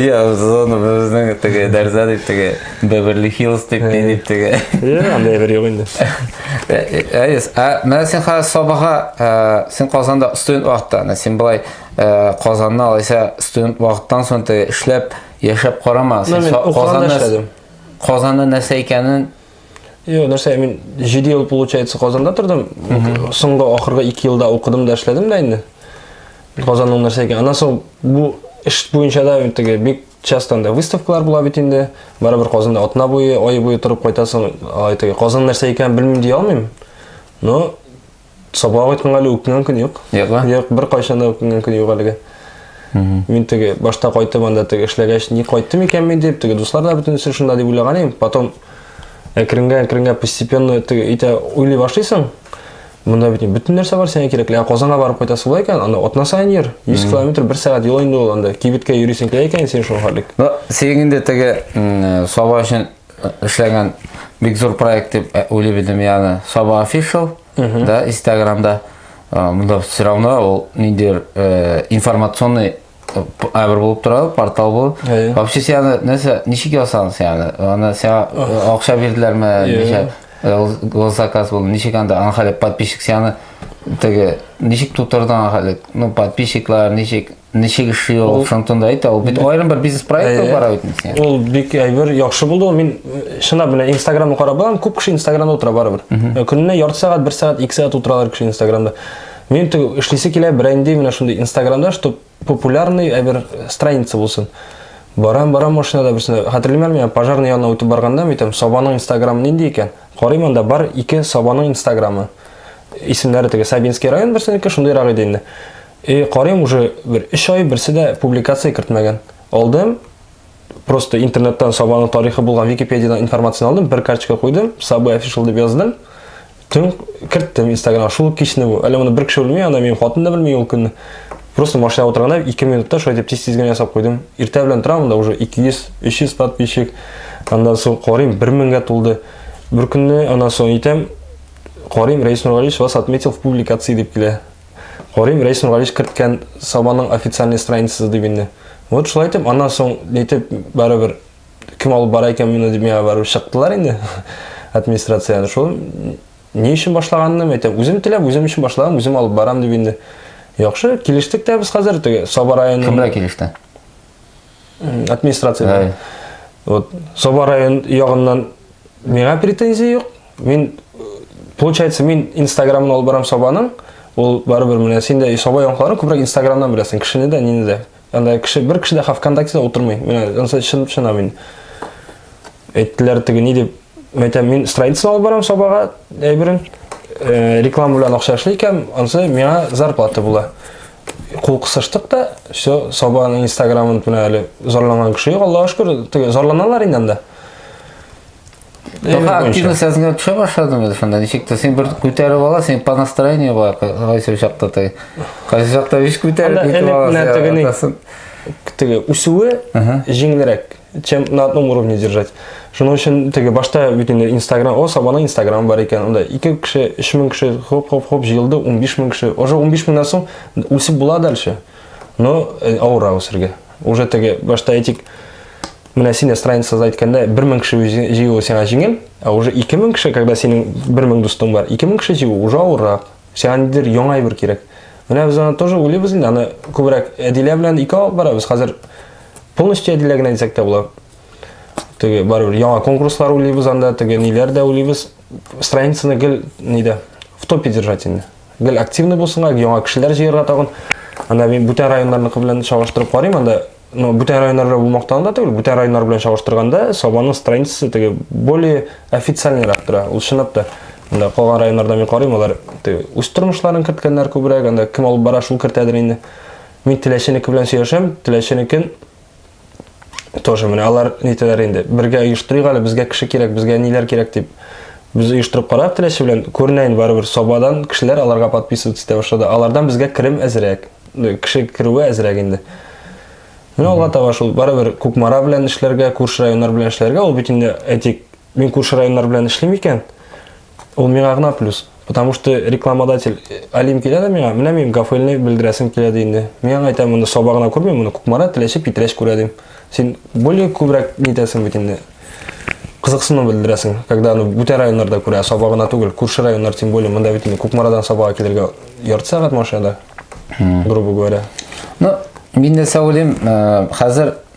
Я зона безнең теге дәрзә дип теге Беверли Хиллс дип не дип теге. Я анда бер юк инде. Әйс, э, э, а менә син хәзер Сабага, син Казанда студент вакытта, син былай Казанны алайса студент вакыттан соң теге эшләп Яшәп карама, син Казанда эшләдем. Казанда нәрсә икәнен Йо, нәрсә, мин 7 ел, получается, Казанда тордым. Соңгы ахыргы 2 елда укыдым да эшләдем дә инде. Казанның нәрсә икән. Аннан соң бу эш буенча да теге бик часто анда выставкалар була бит инде. Барыбер Казанда атна буе, ай буе торып кайтасың. Ай теге Казан нәрсә икән белмим ди алмыйм. Но Сабга кайтканга әле үкенгән көн юк. Юк, а? Юк, бер кайчан да үкенгән көн юк әлегә. Мин теге башта кайтып анда теге эшләгәч, ни кайттым икән мин дип, теге дуслар да бөтенесе шунда дип уйлаган идем. Потом әкренгә әкренгә постепенно теге итә уйлый башлыйсың. Монда бит бөтен нәрсә бар сиңа кирәкле. Ә Казанга барып кайтасы була икән, анда атна саен йөр. 100 километр бер сәгать юл инде ул анда. Кибеткә йөрисең килә икән син шул халык. Ну, синең инде теге м, саба өчен Эшләгән бик зур проект дип ә, уйлый идем, ягъни Саба Official, да, Инстаграмда. Ә, Монда все равно ул ниндидер э, информационный э, п- әмер булып тора, портал бу. Әйе. Вообще сине нәрсә, ничек ясагыз ягъни? Аны сиңа э, акча бирделәрме, Әйе. ничә э, гос- госзаказ булды, ничек анда аны хәле подписчик сине теге ничек тутырдың аны хәле? Ну, подписчиклар ничек Ничек эшли ул? Шунтан да әйтә, ул бит аерым бер бизнес проект бара бит инде. Ул бик әйбер, яхшы булды. Мин шына белән Instagram карап барам, күп кеше Instagramда утыра барыбер. Көненә ярты сәгать, бер сәгать, ике сәгать утыралар кеше Instagramда. Мин түгел, эшлисе килә, бренди менә шундый Instagramда, чтобы популярный әйбер страница булсын. Барам, барам машинада берсенә. Хәтерлимәр миңа пожарный янына үтеп барганда, митем, Сабаның Instagram нинди икән? Карыйм анда бар ике Сабаның Instagramы. Исемнәре теге Сабинский район берсенеке, шундыйрак иде инде. И карыйм уже бер 3 ай берсе дә публикация кертмәгән. Алдым, просто интернеттан Сабаның тарихы булган Википедиядан информацияне алдым, бер карточка куйдым, Сабы official дип яздым. Төн керттем Instagram, шул кичне бу. Әле моны бер кеше белми, ана минем хатын да белми ул көнне. Просто машина утырганда 2 минутта шулай дип тиз-тиз генә ясап куйдым. Иртә белән торам да уже 200, 300 подписчик. Андан соң карыйм 1000-гә тулды. Бер көнне анан соң итәм, карыйм Рәис Нургалиевич вас отметил в публикации дип килә. Карыйм, Рәис Нургалич керткән Сабаның официальный страницасы дип инде. Вот шулай итеп, аннан соң нитеп барыбер кем алып бара икән моны дип миңа барып чыктылар инде администрацияне. Шул ни өчен башлаганны әйтәм. Үзем теләп, үзем өчен башлаган, үзем алып барам дип инде. Яхшы, килештек тә без хәзер теге Саба районы. Кем белән килеште? Администрация. Вот Саба район ягыннан миңа претензия юк. Мин, получается, мин инстаграмын алып барам сабаның, ул барыбер менә син дә саба яңалыкларын күбрәк инстаграмнан беләсең, кешене дә, нине дә. Анда кеше, бер кеше дә ВКонтактеда утырмый. Менә, ансы чын, чына мин. Әйттеләр теге ни дип, мәйтәм, мин строительство алып барам сабага, әйберен, э, реклама белән акча эшли икән, ансы миңа зарплата була. Кул кысыштык та, все, сабаның инстаграмын менә әле зарланган кеше юк, Аллаһу шөкер, теге зарланалар инде анда. Тока активность әзенә төшә башлады инде шунда. Ничек тә син бер күтәреп аласың, по настроению бар. Кайсы чакта ты. Кайсы чакта биш күтәреп китеп аласың. Теге үсүе җиңелрәк, чем на одном уровне держать. Шуның өчен теге башта бит инде Instagram, о, сабана Instagram бар икән. Анда 2 кеше, 3000 кеше хоп хоп хоп җыелды, 15000 кеше. Уже 15000 нан соң үсеп була дальше. Но э, авыра үсергә. уже теге башта әйтик менә сине страницада әйткәндә бер мең кеше җыюы сиңа җиңел ә уже ике мең кеше когда синең бер мең дустың бар ике мең кеше җыю уже авыррак сиңа нидер яңа әйбер кирәк менә без аны тоже уйлыйбыз инде аны күбрәк әдилә белән ике алып барабыз хәзер полностью әдилә генә әйтсәк тә була теге барыбер яңа конкурслар уйлыйбыз анда теге ниләр дә уйлыйбыз страницаны гел нидә в топе держать инде Гел активный булсыннар, яңа кешеләр җыярга тагын. Анда мин бүтән районнарныкы белән чагыштырып карыйм, анда ну, бүтән районнар белән бу мактану да түгел, бүтән районнар белән чагыштырганда Сабанның страницасы теге более официальныйрак тора. Ул чынлап та анда калган районнарда мин карыйм, алар теге үз тормышларын керткәннәр күбрәк, анда кем алып бара, шул кертәдер инде. Мин Теләченеке белән сөйләшәм, Теләченекен тоже менә алар нитәләр инде бергә оештырыйк әле безгә кеше кирәк безгә ниләр кирәк дип без оештырып карап теләче белән күренә инде барыбер сабадан кешеләр аларга подписываться итә башлады алардан безгә керем әзрәк кеше керүе әзрәк инде менә алга таба шул барыбер кукмара белән эшләргә күрше районнар белән эшләргә ул бит инде әйтик мин күрше районнар белән эшлим икән ул миңа гына плюс Потому что рекламодатель э, Алим килә дә миңа, менә мин гафелне белдерәсем килә ди инде. Мин аңа әйтәм, моны саба гына күрмим, моны Кукмара, Теләче, Питрәч күрә дим. Син более күбрәк нитәсең бит инде. Кызыксыну белдерәсең, когда аны бүтән районнарда күрә, саба гына түгел, күрше районнар тем более, монда бит инде Кукмарадан сабага килергә ярты сәгать машинада, грубо говоря. Ну, мин нәрсә уйлыйм, э, хәзер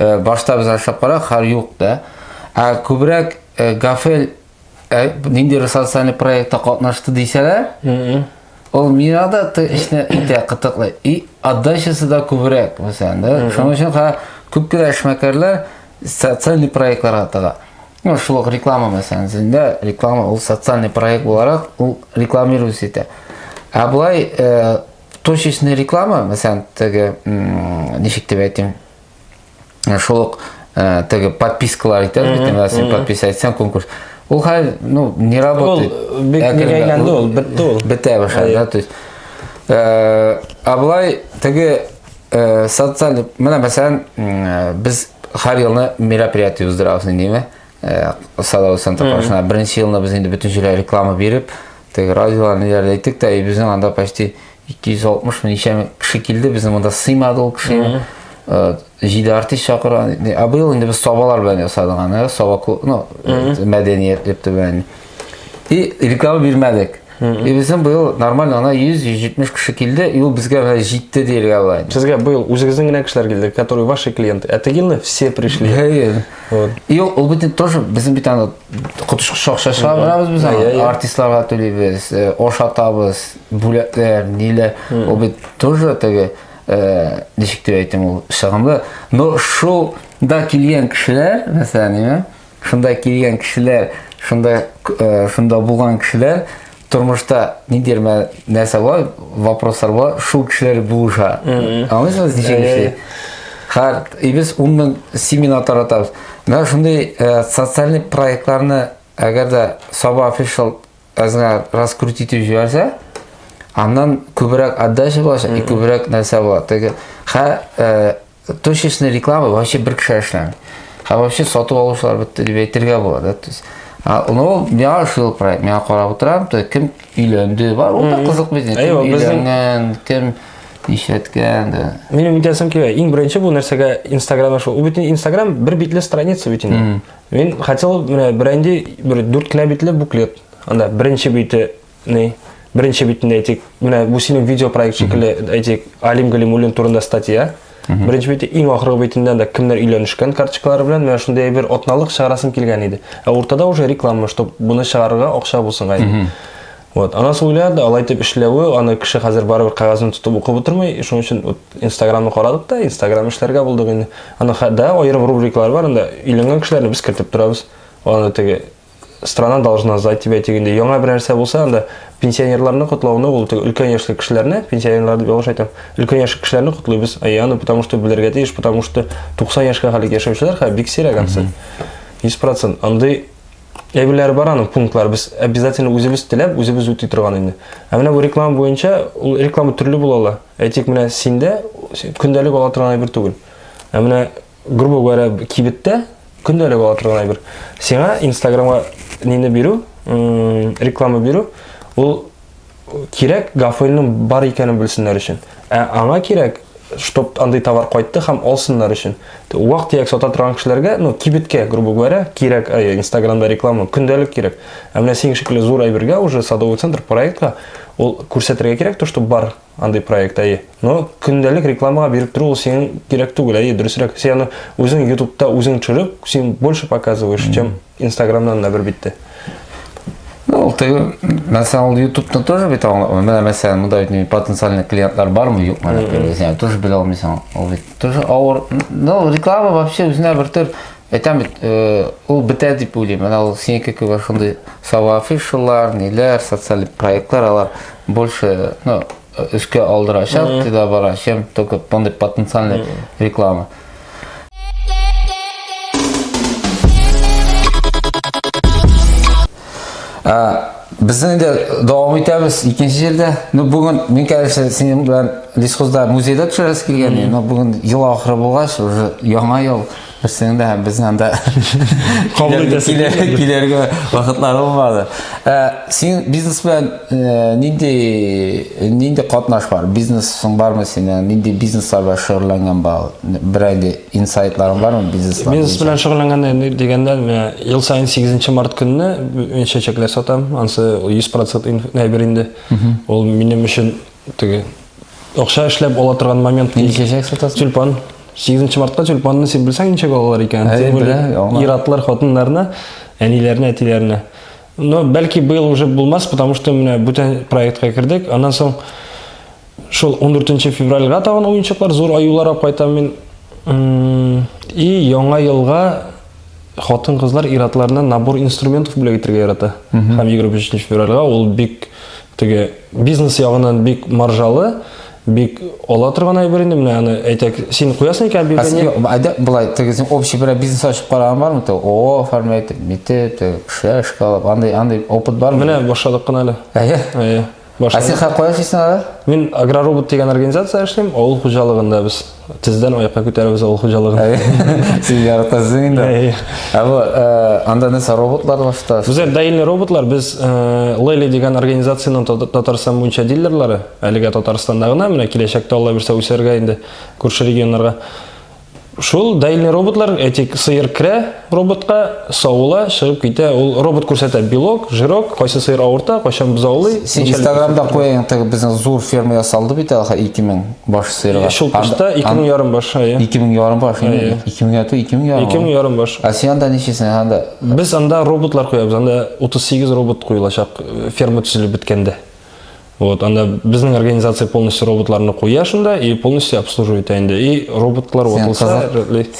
Э, башта без ашап кара хар юк да ә күбрәк э, гафел э, нинди социаль проектта катнашты дисәләр ул мирада ты эшне итә кытыклы и отдачасы да күбрәк мәсәлән да шуның өчен ха күп кенә эшмәкәрләр социаль проектларга тыга ну шул ук реклама мәсәлән зендә реклама ул социаль проект буларак ул рекламируется итә ә болай точечный реклама мәсәлән теге ничек дип әйтим шул ук ә, теге подпискалар итәбез бит инде син подписка әйтсәң конкурс ул хәзер ну не работает ул бик әйләнде ул бетте ул бетә башлады да то есть ә, а былай теге ә, социаль менә мәсәлән без һәр елны мероприятие уздырабыз инде ме садовый центр каршына беренче елны без инде бөтенчеләй реклама биреп Теге радиолар ниләр әйттек тә, безнең анда почти 260 ничә кеше килде, безнең монда сыймады ул кеше. Э, җиде артист чакыра. Ә быел инде без сабалар белән ясадык аны, саба клуб, ну, мәдәният дип түгән. И реклама бирмәдек. И безнең быел нормально ана 100-170 кеше килде, и ул безгә менә җитте диергә була. Сезгә быел үзегезнең генә кешеләр килде, которые ваши клиенты. А тегилне все пришли. Вот. И ул бит тоже безнең бит аны коточкыч акча чыгарабыз без аны иә, иә. артистларга түлибез ошатабыз э, бүләкләр ниләр ул бит тоже теге э, ничек дип әйтим ул чыгымлы но шул да килгән кешеләр мәсәлән шунда килгән кешеләр шунда э, шунда булган кешеләр тормышта ниндидер мә нәрсә була вопрослар була шул кешеләр булыша аңлыйсыңыз ничек эшли хәр и без ун мең семинар таратабыз менә шундый э, социальный проектларны әгәр дә саба офишал әзгә раскрутить итеп җибәрсә аннан күбрәк отдача булачак и күбрәк нәрсә була теге хә э, Точечный реклама вообще бер кеше эшләми. Һәм вообще сату алучылар бетте дип әйтергә була, да, то есть. Ну, миңа шул проект, миңа карап утырам, то кем өйләнде, бар, ул да кызык безне, кем өйләнгән, кем нишләткән, да. Минем үтәсем килә, иң беренче бу нәрсәгә Инстаграмда шул, бөтен Инстаграм бер битле страница бөтен. Мин хотел менә бренди бер дүрт кенә битле буклет. Анда беренче бите Ни? Беренче битендә әйтик, менә бу синең видеопроект шикелле, әйтик, Алим Галимуллин турында статья. Беренче бите иң ахыргы битендә дә кемнәр өйләнешкән карточкалары белән менә шундый бер атналык чыгарасым килгән иде. Ә уртада уже реклама, чтобы буны чыгарырга акча булсын гайды. Вот, ана сөйләде, алай дип эшләве, аны кеше хәзер барыбер кагазын тотып укып утырмый, шуның өчен вот Инстаграмны карадык та, Инстаграм эшләргә булдык инде. Аны да аерым рубрикалар бар, анда өйләнгән кешеләрне без кертеп торабыз. Аны теге страна должна знать тебя дигәндә яңа бер нәрсә булса анда пенсионерларны котлауны ул өлкән яшьле кешеләрне пенсионерлар дип ялгыш әйтәм өлкән яшьле кешеләрне котлыйбыз әйе аны потому что белергә тиеш потому что 90 яшькә хәлек яшәүчеләр хә бик сирәк ансы 100 процент андый әйберләр бар аның пунктлар без обязательно үзебез теләп үзебез үти торган инде ә менә бу реклама буенча ул реклама төрле була ала әйтик менә синдә көндәлек ала торган әйбер түгел ә менә Грубо говоря, кибеттә көндәлек ала торган әйбер. Сиңа Инстаграмга нине бирү, реклама бирү, ул кирәк гафойлның бар икәнен белсеннәр өчен. Ә аңа кирәк, чтоб андый товар кайтты һәм алсыннар өчен. Вак тияк сата торган кешеләргә, ну, кибеткә, грубо говоря, кирәк, ә, Инстаграмда реклама, көндәлек кирәк. Ә менә синең шикелле зур әйбергә уже садовый центр проектка ул күрсәтергә кирәк, то, что бар Андый проект, әйе. Но көндәлек рекламага биреп тору ул синең кирәк түгел, әйе, дөресрәк. Син аны үзең ютубта үзең төшереп, син больше показываешь, чем инстаграмнан да бер битте. Ну, ул теге, мәсәлән, ул ютубта тоже бит аңлатма. Менә мәсәлән, монда бит потенциальный клиентлар бармы, юкмы, дип, тоже белә алмыйсың. Ул бит тоже авыр. Ну, реклама вообще үзенә бер төр Әйтәм бит, ул бетә дип уйлыйм. Менә ул синеке кебек шундый сава афишалар, ниләр, социаль проектлар алар больше, ну, өскә алдырачак, mm -hmm. тида бара, чем только мондый потенциальный mm -hmm. реклама. А, Безнең дә дәвам итәбез икенче җирдә. Ну бүген мин кәләшә синең белән Лисхозда музейда төшәрәс килгән. Ну бүген ел ахыры булгач, уже яңа ел. Берсенең дә һәм безнең анда килергә вакытлары булмады. Ә син бизнес белән э, нинди нинди катнаш бар? Бизнесың бармы синең? Нинди бизнеслар белән шөгыльләнгән бар? Берәр инде инсайтларың бармы бизнес? Бизнес белән шөгыльләнгәндә дигәндә, ел саен 8 март көнне мин чәчәкләр сатам. Ансы 100% инф, инде. Ул минем өчен Теге акча эшләп ала торган момент. Нинди чәчәк сатасың? Тюльпан. 8 мартка тюльпанны син белсәң ничек алалар икән? Әй, беләм, Иратлар хатыннарына, әниләренә, әтиләренә. Но бәлки быел уже булмас, потому что менә бүтән проектка кердек. Аннан соң шул 14 февральга тагын уенчыклар, зур аюлар алып кайтам мин. И яңа елга Хатын-кызлар ир-атларына набор инструментов бүләк итәргә ярата. Һәм 23 февральгә ул бик теге бизнес ягыннан бик маржалы, бик ала торган әйбер инде менә аны әйтәк син куясың икән объявление әйдә болай теге син общий берәр бизнес ачып караган бармы те ООО оформлять итеп митеп теге кешеләр эшкә алып андай андый опыт бармы менә башладык кына әле әйе әйе Ә син хә кая эшлисең әле? Мин Агроробот дигән организация эшлим, авыл хуҗалыгында без тездән аякка күтәрәбез авыл хуҗалыгын. Син яратасың инде. Ә бу э, анда нәрсә роботлар башта? Без даиле роботлар, без э, Лели дигән организациянең Татарстан буенча дилерлары, әлегә Татарстанда гына, менә киләчәктә Алла бирсә үсәргә инде күрше регионнарга. Шул дәйле роботлар, әйтик, сыер керә роботка, савыла, чыгып китә. Ул робот күрсәтә белок, жирок, кайсы сыер авырта, кайчан бозаулый. Син Инстаграмда куяйың, теге безнең зур ферма ясалды бит әле 2000 баш сыерга. Шул кышта 2000 ярым баш, ая. 2000 ярым баш, 2000 га 2000 ярым. 2000 ярым баш. А син анда ничесен анда? Без анда роботлар куябыз, анда 38 робот куелачак ферма төзелеп беткәндә. Вот, анда безнең организация полностью роботларны куя шунда и полностью обслуживает инде. И роботлар ватылса,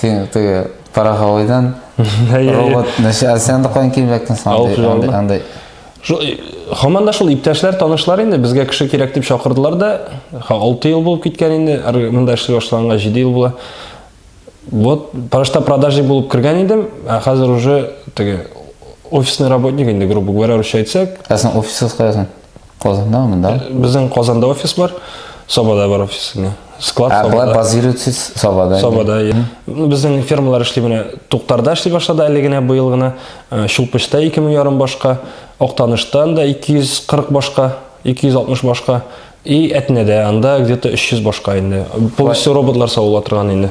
син теге Парахалайдан робот, нәрсә, сен дә кайын килмәктен сон. Анда Хаман да шул иптәшләр, танышлар инде безгә кеше кирәк дип чакырдылар да. 6 ел булып киткән инде, монда эшли башлаганга 7 ел була. Вот, парашта продажи булып кергән идем, ә хәзер уже теге офисный работник инде, грубо говоря, русча әйтсәк. Ә син офисыз каясың? Казанда монда? Э, Безнең Казанда офис бар, Сабада бар офис инде. Склад ә, Сабада. базируетсез Сабада. Сабада. Иә. Ну, безнең фермалар эшли менә Туктарда эшли башлады әле генә быел гына. Э, Чулпычта 2 мең ярым башка, Актаныштан да 240 башка, 260 башка. И Әтнәдә анда где-то 300 башка инде. Полностью роботлар савыла торган инде.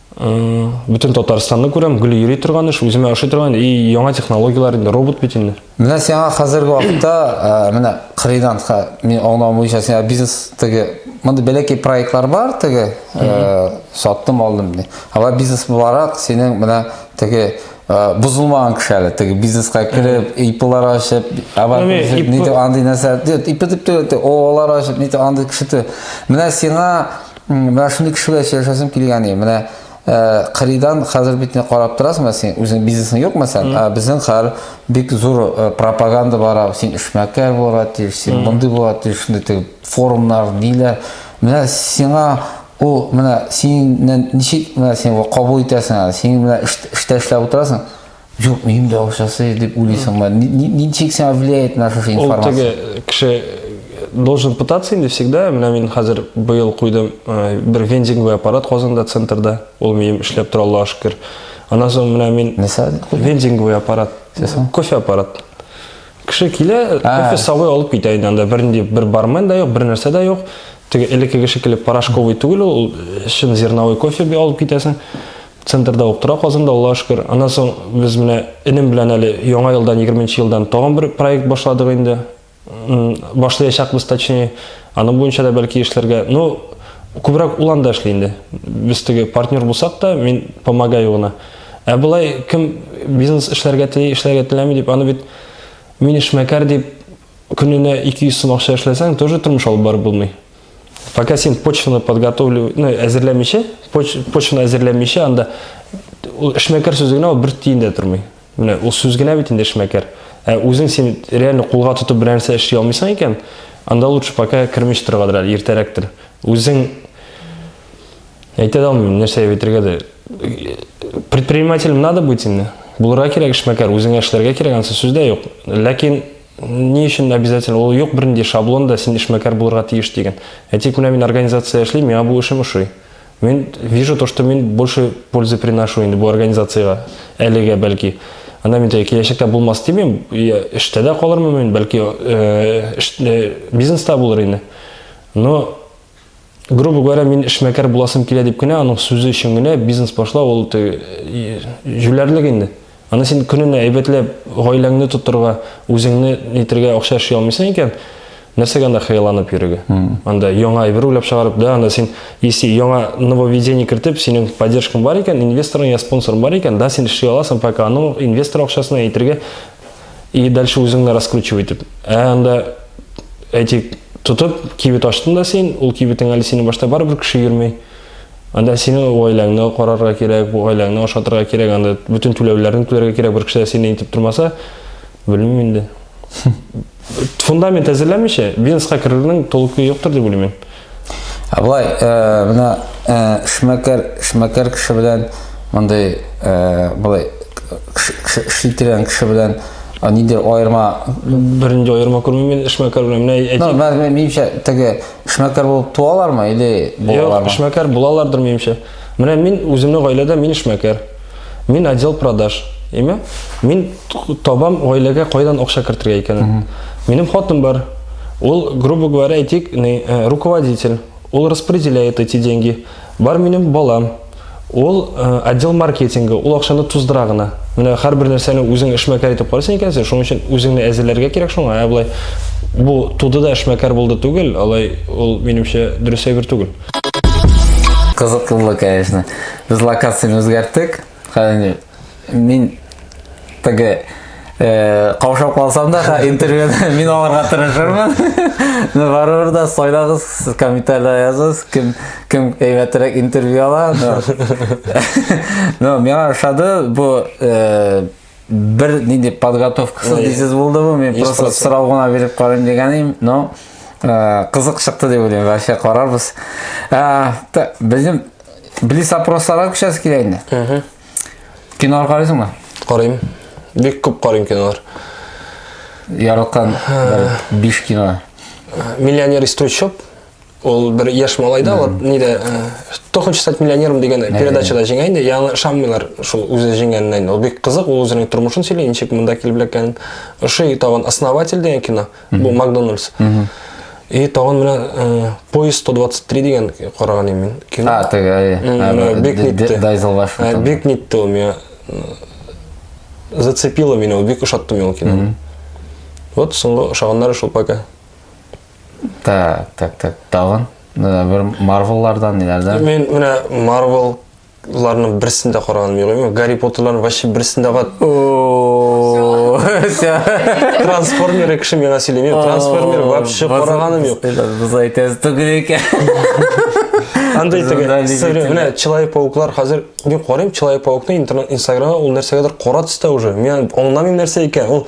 Бүтін Татарстанны күрәм, гүлі йөри тұрған үш, үзіме аши тұрған, и яңа технологиялар инде, робот бит инде. Менә сиңа хәзерге вакытта, менә кырыйдан, мин аңлавым буенча сиңа бизнес теге, мондый бәләкәй проектлар бар теге, саттым алдым ди. Алар бизнес буларак синең менә теге бозылмаган кеше әле, теге бизнеска кереп, иплар ашып, авар нидер андый нәрсә, ип дип тә, олар ашып, нидер андый кеше. Менә сиңа Менә шундый кеше белән сөйләшәсем килгән иде. Менә кырыйдан хәзер бит не карап торасың, менә син үзең бизнесың юк мәсәлән, ә безнең хәл бик зур пропаганда бара, син эшмәкәр булырга тиеш, син мондый булырга тиеш, шундый теге форумнар, ниләр. Менә сиңа ул менә синнән ничек менә син кабул итәсең әле? Син менә эштә эшләп утырасың. Юк, минем дә акчасы дип уйлыйсыңмы? Ничек сиңа влияет наша информация? Ул теге кеше э, должен пытаться инде всегда. Менә мин хәзер быел куйдым э, бер вендинговый аппарат Казанда центрда. Ул минем эшләп тора Аллаһу шөкер. Аннан соң менә мин вендинговый аппарат, кофе аппарат. Кеше килә, кофе сабый алып китә инде анда. Бернинди бер бармен да юк, бер нәрсә дә юк. Теге элеккеге шикелле порошковый түгел ул, чын зерновой кофе алып китәсең. Центрда ук тора Казанда, Аллага шөкер. Аннан соң без менә энем белән әле яңа елдан, 20 нче елдан тагын бер проект башладык инде. Башлаячакбыз, точнее. Аны буенча да бәлки эшләргә. Ну, күбрәк ул анда эшли инде. Без теге партнер булсак та, мин помогаю гына. Ә болай кем бизнес эшләргә тели, эшләргә теләми дип, аны бит мин эшмәкәр дип Көненә 200 сум акча эшләсәң, тоже тормыш алып барып булмый. Пока син почваны подготовлю, ну, әзерләмичә, поч, почваны әзерләмичә, анда ул эшмәкәр сүзе генә ул бер тиен дә тормый. Менә ул сүз генә бит инде эшмәкәр. Ә үзең син реально кулга тотып бер нәрсә эшли алмыйсың икән, анда лучше пока кермеш торгадыр әле, иртәрәктер. Үзең әйтә дә алмыйм нәрсә әйтергә дә предпринимателем надо быть инде булырга кирәк эшмәкәр үзеңә эшләргә кирәк ансы сүз дә юк ләкин ни өчен обязательно ул юк бернинди шаблон да син эшмәкәр булырга тиеш дигән ә тик менә мин организация эшлим миңа бу эшем ошый мин вижу то что мин больше пользы приношу инде бу организациягә әлегә бәлки анда мин киләчәктә булмас димим эштә дә калырмын мин бәлки э, э, бизнеста булыр инде но Грубо говоря, мин эшмәкәр буласым килә дип кенә, аның сүзе өчен генә бизнес башлау ул җүләрлек инде. Аны син көненә әйбәтләп гаиләңне тотырга, үзеңне нитергә акча эшли алмыйсың икән, нәрсәгә анда хыялланып йөрергә? Анда яңа әйбер уйлап чыгарып, да, анда син если яңа нововведение кертеп, синең поддержкаң бар икән, инвесторың я спонсорың бар икән, да, син эшли аласың, пока аның инвестор акчасына әйтергә И дальше үзеңне раскручивай дип. Ә анда әйтик, тотып, кибет ачтың да син, ул кибетең әле синең башта барыбер кеше йөрмей. Анда сине гаиләңне карарга кирәк, бу гаиләңне ашатырга кирәк, анда бөтен түләүләрне түләргә кирәк, бер кеше дә сине итеп тормаса, белмим инде. Фундамент әзерләмичә, бизнеска керүнең толкы юктыр дип уйлыйм мин. Абай, э, мына э, шмәкәр, шмәкәр кеше белән мондый э, былай шитерән кеше белән нидер аерма бернинди аерма күрмим мин эшмәкәр белән менә әйтим ну, менимчә теге эшмәкәр булып туалармы или булалармы юк эшмәкәр булалардыр минемчә Менә мин үземнең гаиләдә мин эшмәкәр. Мин отдел продаж. Әйме? Мин табам гаиләгә кайдан акча кертергә икәнен. Минем хатын бар. Ул, грубо говоря, әйтик, э, руководитель. Ул распределяет эти деньги. Бар минем балам. Ул э, отдел маркетинга, ул акчаны туздыра гына. Менә һәрбер нәрсәне үзең эшмәкәр итеп карыйсың икәнсең, шуның өчен үзеңне әзерләргә кирәк шуңа. Ә болай бу туды да эшмәкәр булды түгел, алай ул минемчә дөрес әйбер түгел. Кызыклы, конечно. Без локацияне үзгәрттек. Хәзер мин теге э, каушап калсам да интервьюны мин алырга тырышырмын но барыбер да сайлагыз комментарийда языгыз кем кем әйбәтрәк интервью ала но миңа ошады бу э, бер нинди подготовкасыз дисез булды бу мин просто сорау гына биреп карыйм дигән идем но э, кызык чыкты дип уйлыйм вообще карарбыз э, безнең близ опросларга күчәбез килә инде кинолар карыйсыңмы карыйм бик күп карыйм кинолар яраткан биш кино миллионер из трущоб Ул бер яшь малай да, вот нидә Кто хочет стать миллионером дигән передачада җиңә инде, яңа шаммилар шул үзе җиңгәненә инде. Ул бик кызык, ул үзенең тормышын сөйли, ничек монда килеп эләккәнен. Ошый тагын Основатель дигән кино, бу Макдональдс. И тагын менә э, поезд 123 дигән караган идем мин. Кино. А, теге, әйе. Э, бик нитте. Дайзел баш. Э, бик нитте ул меня. Зацепило меня, бик ошатты мин ул кино. Вот соңгы ошаганнары шул пока. Так, так, так, тагын э, бер Марвеллардан ниләрдән? Мен менә Marvel ларның берсен дә караган юк. Мен Гарри Поттерларның вообще берсен дә кат. О, ся. Трансформеры кеше миңа сөйлеми. Трансформер вообще караганым юк. Без әйтәбез түгел икән. Андый Бездә теге не сыры- битен. менә Человек пауклар хәзер мин карыйм Человек паукны интернет Инстаграмга ул нәрсәгәдер кара төстә уже. Мин аңламыйм нәрсә икән. Ул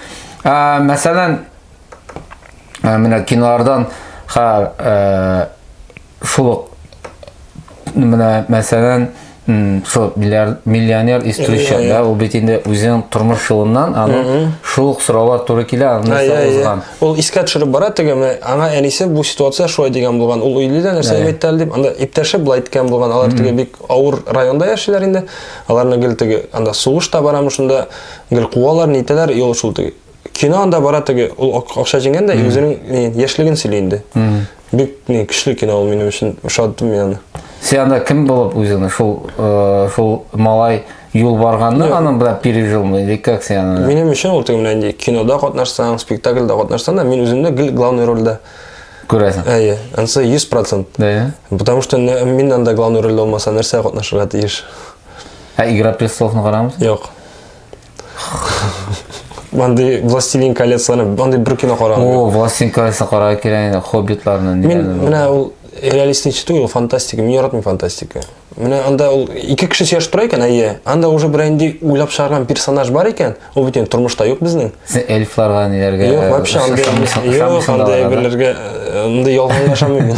Ә, мәсәлән, ә, менә кинолардан ха ә, шул ук менә мәсәлән шул миллионер из трущоб да ул бит инде үзенең тормыш юлыннан аның шул ук сораулар туры килә аны узган ул искә төшереп бара теге аңа әнисе бу ситуация шулай дигән булган ул өйли дә нәрсә әйтте әле дип анда иптәше былай әйткән булган алар теге бик авыр районда яшиләр инде аларны гел теге анда сугыш та барамы шунда Гел куалар, нитәләр, юл шул теге. Кино анда бара теге, ул акча җиңгән дә, үзенең яшьлеген сөйли инде. Бик не көчле кино ул минем өчен, ошатты мин аны. Сен анда кем булып үзеңне шул э, шул малай юл барганны аның белән пережилмы или как сен аны? Минем өчен ул теге менә кинода катнашсаң, спектакльдә катнашсаң да, мин үземне гел главный рольдә күрәсең. Әйе, анысы 100%. Әйе. Потому что мин анда главный рольдә булмаса, нәрсә катнашырга тиеш? Ә Игра престоловны карамыйсың? Юк. Мындай Властелин колецияны, мындай бер кино караган. О, Властелин колеса кара кирәк инде, хоббитларны. Мин менә ул реалистичный түгел, фантастика. Мин яратмыйм фантастика. Менә анда ул ике кеше сөйләшеп тора икән, әйе. Анда уже бер инде уйлап чыгарган персонаж бар икән. Ул бит инде тормышта юк безнең. Син эльфларга ниләргә? Юк, вообще анда юк, анда әйберләргә, анда ялганга ышанмыйм.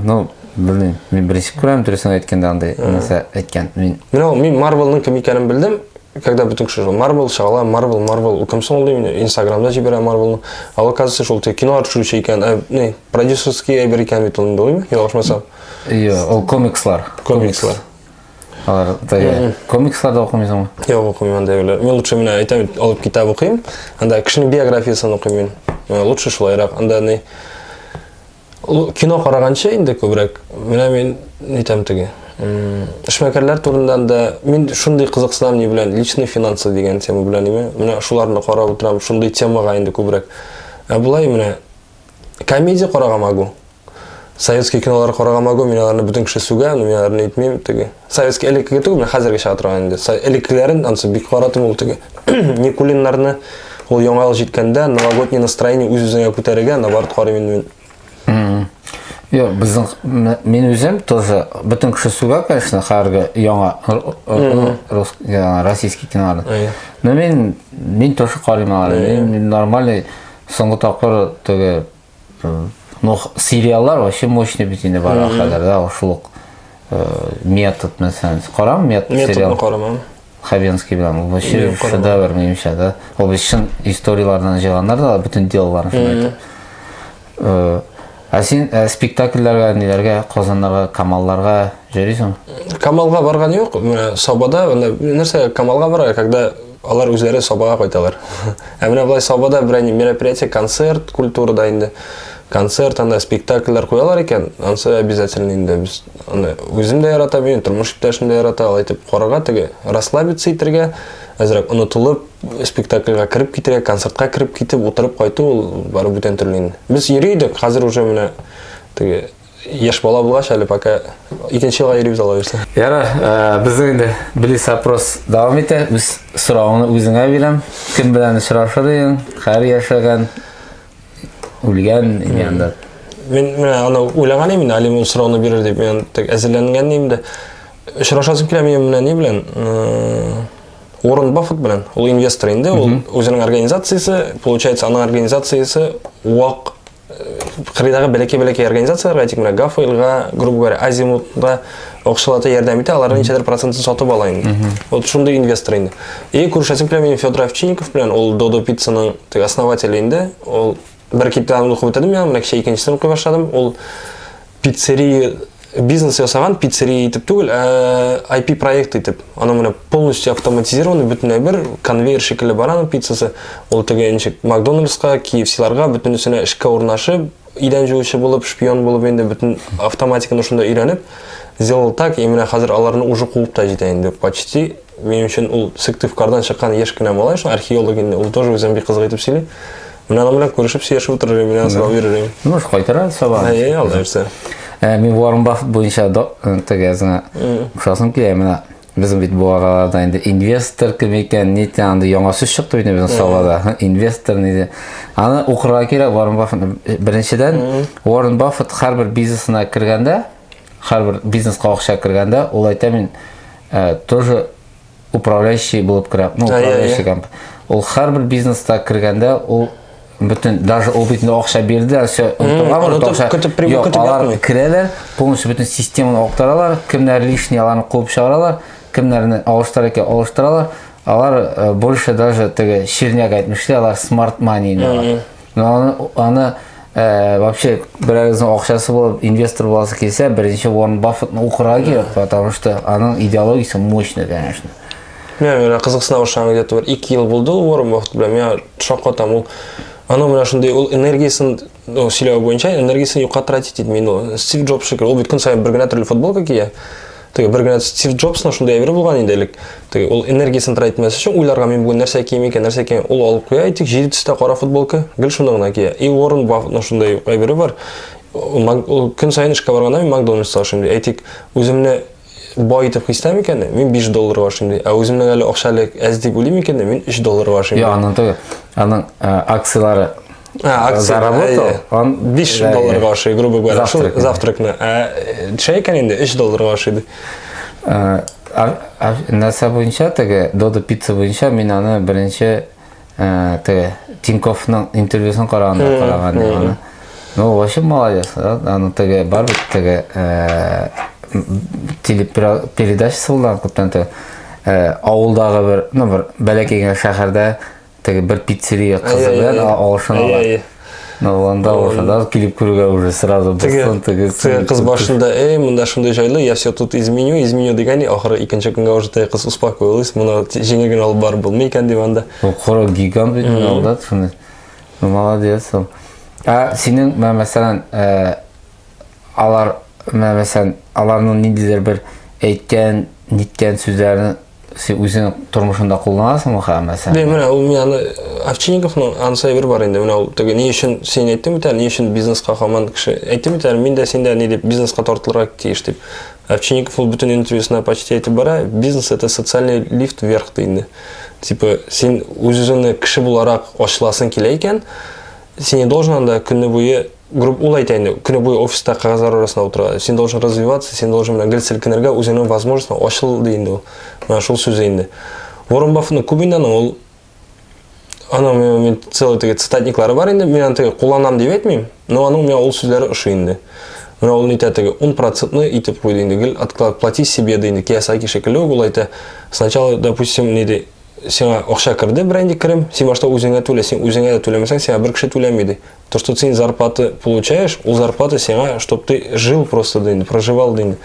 Ну, Белмим. Мин беренче күрәм, дөресен әйткәндә андый нәрсә әйткән. Мин Мин ул мин Марвелның кем икәнен белдем. Когда бөтен кеше шул Марвел чагала, Марвел, Марвел, ул кем соң ул дим, Инстаграмда җибәрә Марвелны. А ул оказывается шул теге кинолар төшерүче икән, ә, не, продюсерский әйбер икән бит ул инде, уймы? Ялгышмасам. Йо, ул комикслар. Комикслар. Алар теге комикслар да укымыйсыңмы? Юк, укымыйм анда юлы. Мин лучше менә әйтәм бит, алып китап укыйм. Анда кешенең биографиясен укыйм мин. Э, Лучше шулайрак. Анда не Кино караганчы инде күбрәк, менә мин нитәм теге. Эшмәкәрләр турында да мин шундый кызыксынам ни белән, личный финансы дигән тема белән име. Менә шуларны карап утырам, шундый темага инде күбрәк. Ә болай менә комедия карага могу. Советский кинолар карага могу, мин аларны бөтен кеше сүгә, мин аларны итмим теге. Советский элеккеге түгел, менә хәзерге чыга торган инде. Элеккеләрен ансы бик каратым ул теге. Никулиннарны ул яңа ел җиткәндә новогодний настроение үз-үзеңә күтәрергә наоборот карыйм инде мин. Йо, безнең мин үзем тоже бөтен кеше сүгә, конечно, хәрге яңа рус яңа российский кинолар. Но мин мин тоже карыйм алар. Мин нормальный соңгы тапкыр теге Ну, сериаллар вообще мощный бит инде бара хәзер, да, шул ук метод мәсәлән. Карам метод сериал. Методны карамам. Хабенский белән ул вообще шедевр минемчә, да. Ул бит чын историяләрдән җыйганнар да, бөтен делоларын шуны әйтеп. Ә син ә, спектакльләргә, ниләргә, Казаннарга, Камалларга йөрисең? Камалга барган юк. Сабада, нәрсә, Камалга бара, когда Алар үзләре Сабага кайталар. Ә менә болай Сабада бер әни мероприятие, концерт культурада инде. Концерт анда спектакльләр куялар икән, ансы обязательно инде без аны үзем дә ярата бит, тормыш иптәшем дә ярата, алай итеп карарга теге расслабиться итергә, әзрәк онытылып, спектакльгә кереп китергә, концертка кереп китеп, утырып кайту ул бары бүтән төрле инде. Без йөри идек, хәзер уже менә теге Яшь бала булгач әле пока икенче елга йөрибез ала бирсә. Яра, э, безнең инде близ опрос дәвам итә. Үз соравыңны үзеңә бирәм. Кем белән очрашыр идең? Хәр яшәгән, үлгән янда. Мин менә аны уйлаган идем, Алим ул сорауны бирер дип. Мин тек әзерләнгән идем дә. Очрашасым килә минем менә ни белән? Уоррен Баффет белән. Ул инвестор инде, ул үзенең организациясе, получается, аның организациясе вак кырыйдагы бәләкәй-бәләкәй организацияләргә, әйтик, менә Гафойлга, грубо говоря, Азимутка акчалата ярдәм итә, аларның ничәдер процентын сатып ала инде. Вот шундый инвестор инде. И күршәсем белән мин Федор Овчинников белән, ул Додо пиццаның теге основателе инде. Ул бер китапны укып бетердем, менә кичә икенчесен укый башладым. Ул пиццерия бизнес ясаган пиццерия итеп түгел ә IP проект итеп аны менә полностью автоматизированный бөтенләй бер конвейер шикелле бара аның пиццасы ул теге ничек макдональдска KFC-ларга бөтенесенә эшкә урнашып идән жуучы булып шпион булып инде бөтен автоматиканы шунда өйрәнеп сделал так и менә хәзер аларны уже куып та җитә инде почти минем өчен ул сыктывкардан чыккан яшь кенә малай шул археолог инде ул тоже үзен бик кызык итеп сөйли Мин аның белән күрешеп сөйләшеп утырыр идем, мин сабак бирер идем. Ну, кайтара сабак. Әйе, алда бирсә. Ә, мин Уоррен Баффет буенча э, тегезне ошасым килә менә. Безнең бит бу араларда инде инвестор кем икән, ни икән, анда яңа сүз чыкты бит безнең салада. Инвестор ни Аны укырга кирәк Уоррен Баффет. Э, беренчедән, Уоррен Баффет һәрбер бизнесына кергәндә, һәрбер бизнеска акча кергәндә, ул әйтә мин э, тоже управляющий булып керә. Ну, управляющий компания. Ул һәрбер бизнеста кергәндә ул бөтен даже ул бит акча бирде, все онтылганмы, акча көтеп прибыль көтеп алар керәләр, полностью бөтен системаны актаралар, кемнәр лишний аларны куып чыгаралар, кемнәрне алыштыра икән алыштыралар, алар э, больше даже теге ширняк әйтмешли, алар smart money. Аны, аны ә, вообще берәрегезнең акчасы булып инвестор буласы килсә, беренче орын Баффетны укырга кирәк, потому что аның идеологиясе мощный, конечно. Мен менә кызыксына башлаган где-то бер 2 ел булды ул Уоррен Баффет белән. Миңа шаккатам ул. Аның менә шундый ул энергиясен ну, сөйләве буенча энергиясен юкка тратить итми. Ну, Стив Джобс шикелле, ул бит көн саен бер генә төрле футболка кия. Теге бер генә Стив Джобсның шундый әйбер булган инде элек. Теге ул энергиясен тратить итмәс өчен уйларга мин бүген нәрсә кием икән, нәрсә кием. Ул алып куя, әйтик, җиде төстә кара футболка, гел шуны гына кия. И Уоррен Баффетның шундый әйбере бар. Ул көн саен эшкә барганда мин Макдональдста ашыйм ди. Әйтик, үземне бай итеп хис итәм икән, мин 5 долларга ашыйм ди. Ә үземнең әле акча әле әз дип уйлыйм икән, мин 3 долларга ашыйм. Я, аның түгел. Аның акцияләре А, акция, заработал, ә, он 5 да, долларга ашый, грубо говоря, завтрак, шул завтракны. Ә чәй икән инде 3 долларга ашыйды. Ә, нәрсә буенча теге Додо пицца буенча мин аны беренче ә, теге Тинковның интервьюсын караганда караган аны. Ну, вообще молодец, да? Аны теге бар бит теге ә, телепередачасы булган күптән теге. Ә, авылдагы бер, ну, бер бәләкәй генә шәһәрдә теге бер пиццерия кызы белән алышын ала. Анда ошада килеп күрергә уже сразу дусын тегез. Теге кыз башында, "Эй, монда шундый җайлы, я все тут изменю, изменю" дигән, ахыры икенче көнгә уже теге кыз успокоилась, моны җиңел генә алып барып булмый икән дип анда. Кара гигант бит монда, шуны. Молодец. А синең мәсәлән, алар мәсәлән аларның ниндидер бер әйткән ниткән сүзләрен син үзең тормышында кулланасыңмы хәзер мәсәлән Дә, менә ул мин аны Овчинниковның анысы әйбер бар инде. Менә ул теге ни өчен син әйттең бит әле, ни өчен бизнеска хаман кеше әйттең бит әле, мин дә син дә ни дип бизнеска тартылырга тиеш дип. Овчинников ул бөтен интервьюсына почти әйтеп бара, бизнес это социальный лифт вверх ди инде. Типа син үз-үзеңне кеше буларак ачыласың килә икән, син не должен анда көнне буе грубо ул әйтә инде көне буе офиста кәгазьләр арасында утыра син должен развиваться син должен менә гел селкенергә үзеңнең возможностьң ачыл ди инде ул менә шул сүзе инде ворон баффетның күп инде аның ул аның мен целый теге цитатниклары бар инде мен аны теге кулланам дип әйтмим но аның миңа ул сүзләре ошый инде менә ул нитә теге он процентны итеп куйды инде гел отклад плати себе ди инде киясаки шикелле үк ул әйтә сначала допустим ни ди сиңа акча керде берәнди керем син башта үзеңә түлә син үзеңә дә түләмәсәң сиңа бер кеше түләми ди То, что ты зарплаты получаешь, у зарплаты сиңа, чтобы ты жил просто день, проживал день.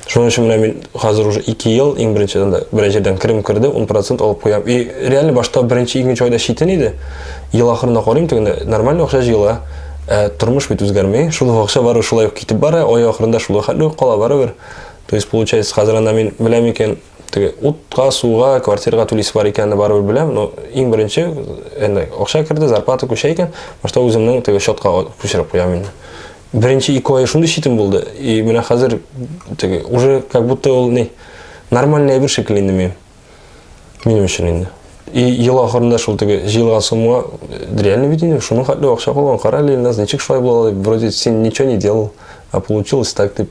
Что значит, менә мин хәзер уже 2 ел иң беренчедән дә беренчедән керем керде, 10% алып куям. И реально башта беренче икенче айда шитен иде. Ел ахырында карыйм тегендә нормально акча җыела. Ә тормыш бит үзгәрми. Шул акча бары шулай ук китеп бара, ай ахырында шул хәтле кала барыбер. То есть получается, хәзер анда мин беләм икән, Теге утка, суга, квартирага түлисе бар икәнне барыбер беләм, но иң беренче әнә акча керде, зарплата күчә икән, башта үземнең теге счетка күчереп куям инде. Беренче ике ай шундый читен булды, и менә хәзер теге уже как будто ул не нормальный әйбер шикелле инде минем. Минем өчен инде. И ел ахырында шул теге җыелган сумма реально бит инде шуның хәтле акча калган. Кара әле, Ильназ, ничек шулай була? Вроде син ничего не делал, а получилось так дип.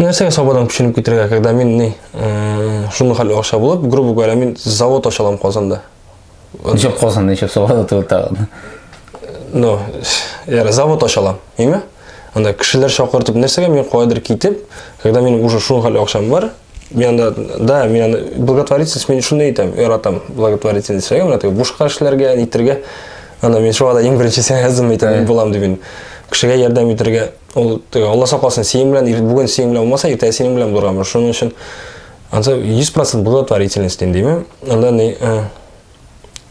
Нәрсәгә сабадан күченеп китергә, когда мин ни, шуны хәл акча булып, грубо говоря, мин завод ачалам Казанда. Ничек Казанда, ничек сабада түгел тагын? Ну, яра завод ачалам, име? Анда кешеләр чакыртып, нәрсәгә мин кайдыр китеп, когда мин уже шуны хәл акчам бар, мин анда, да, мин анда благотворительность мин шуны әйтәм, яратам благотворительность, әгәр менә теге бушка эшләргә, нитергә, анда мин шуга да иң беренче сәнгәтем әйтәм, булам дип мин. Кешегә ярдәм итәргә, Ул теге Алла сакласын, синең белән ир- бүген синең белән булмаса, иртәгә синең белән булырга мөмкин. Шуның өчен анда 100% благотворительность дим, димме? Анда ни? э,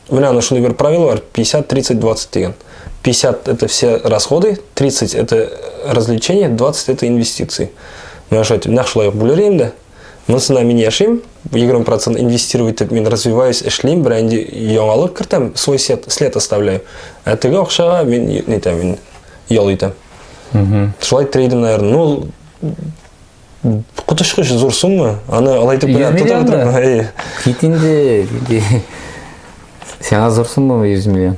Менә аны шундый бер правило бар, 50 30 20 дигән. 50 это все расходы, 30 это развлечения, 20 это инвестиции. Менә шулай итеп, нәкъ шулай ук бүлер инде. Монысына мин яшим, 20% инвестирую итеп мин развиваюсь, эшлим, бер инде яңалык кертәм, свой след, след оставляю. Ә теге акчага мин нитәм, мин ял итәм. Шулай трейдинг, наверное, ну, котышкыш зур сумма, аны алай итеп генә тотып торам. Кит инде, сиңа зур сумма 100 миллион.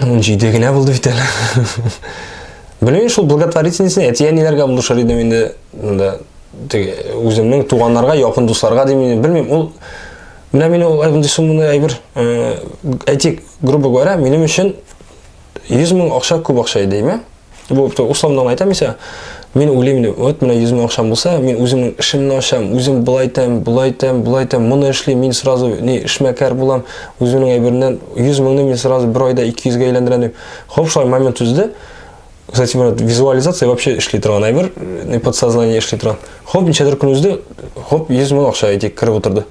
Ун җиде генә булды бит әле. Белмим шул благотворительностьны әти-әниләргә булышыр идем инде. Монда үземнең туганнарга, якын дусларга дим инде. Белмим, ул менә мин ул әйбер сумманы әйбер, э, әйтик, грубо говоря, минем өчен 100 мең акча күп акча иде, әйме? Бу условно гына әйтәм исә, мин уйлыйм, вот менә 100 мең акчам булса, мин үземнең эшемне ачам, үзем былай итәм, былай итәм, былай итәм, моны эшлим, мин сразу ни эшмәкәр булам, үземнең әйбернән 100 меңне мин сразу бер айда 200 гә әйләндерәм дип. Хоп, шулай момент үзде. Кстати, менә визуализация вообще эшли торган әйбер, не подсознание эшли торган. Хоп, ничәдер көн үзде, хоп, 100 мең акча әйтик, кереп утырды.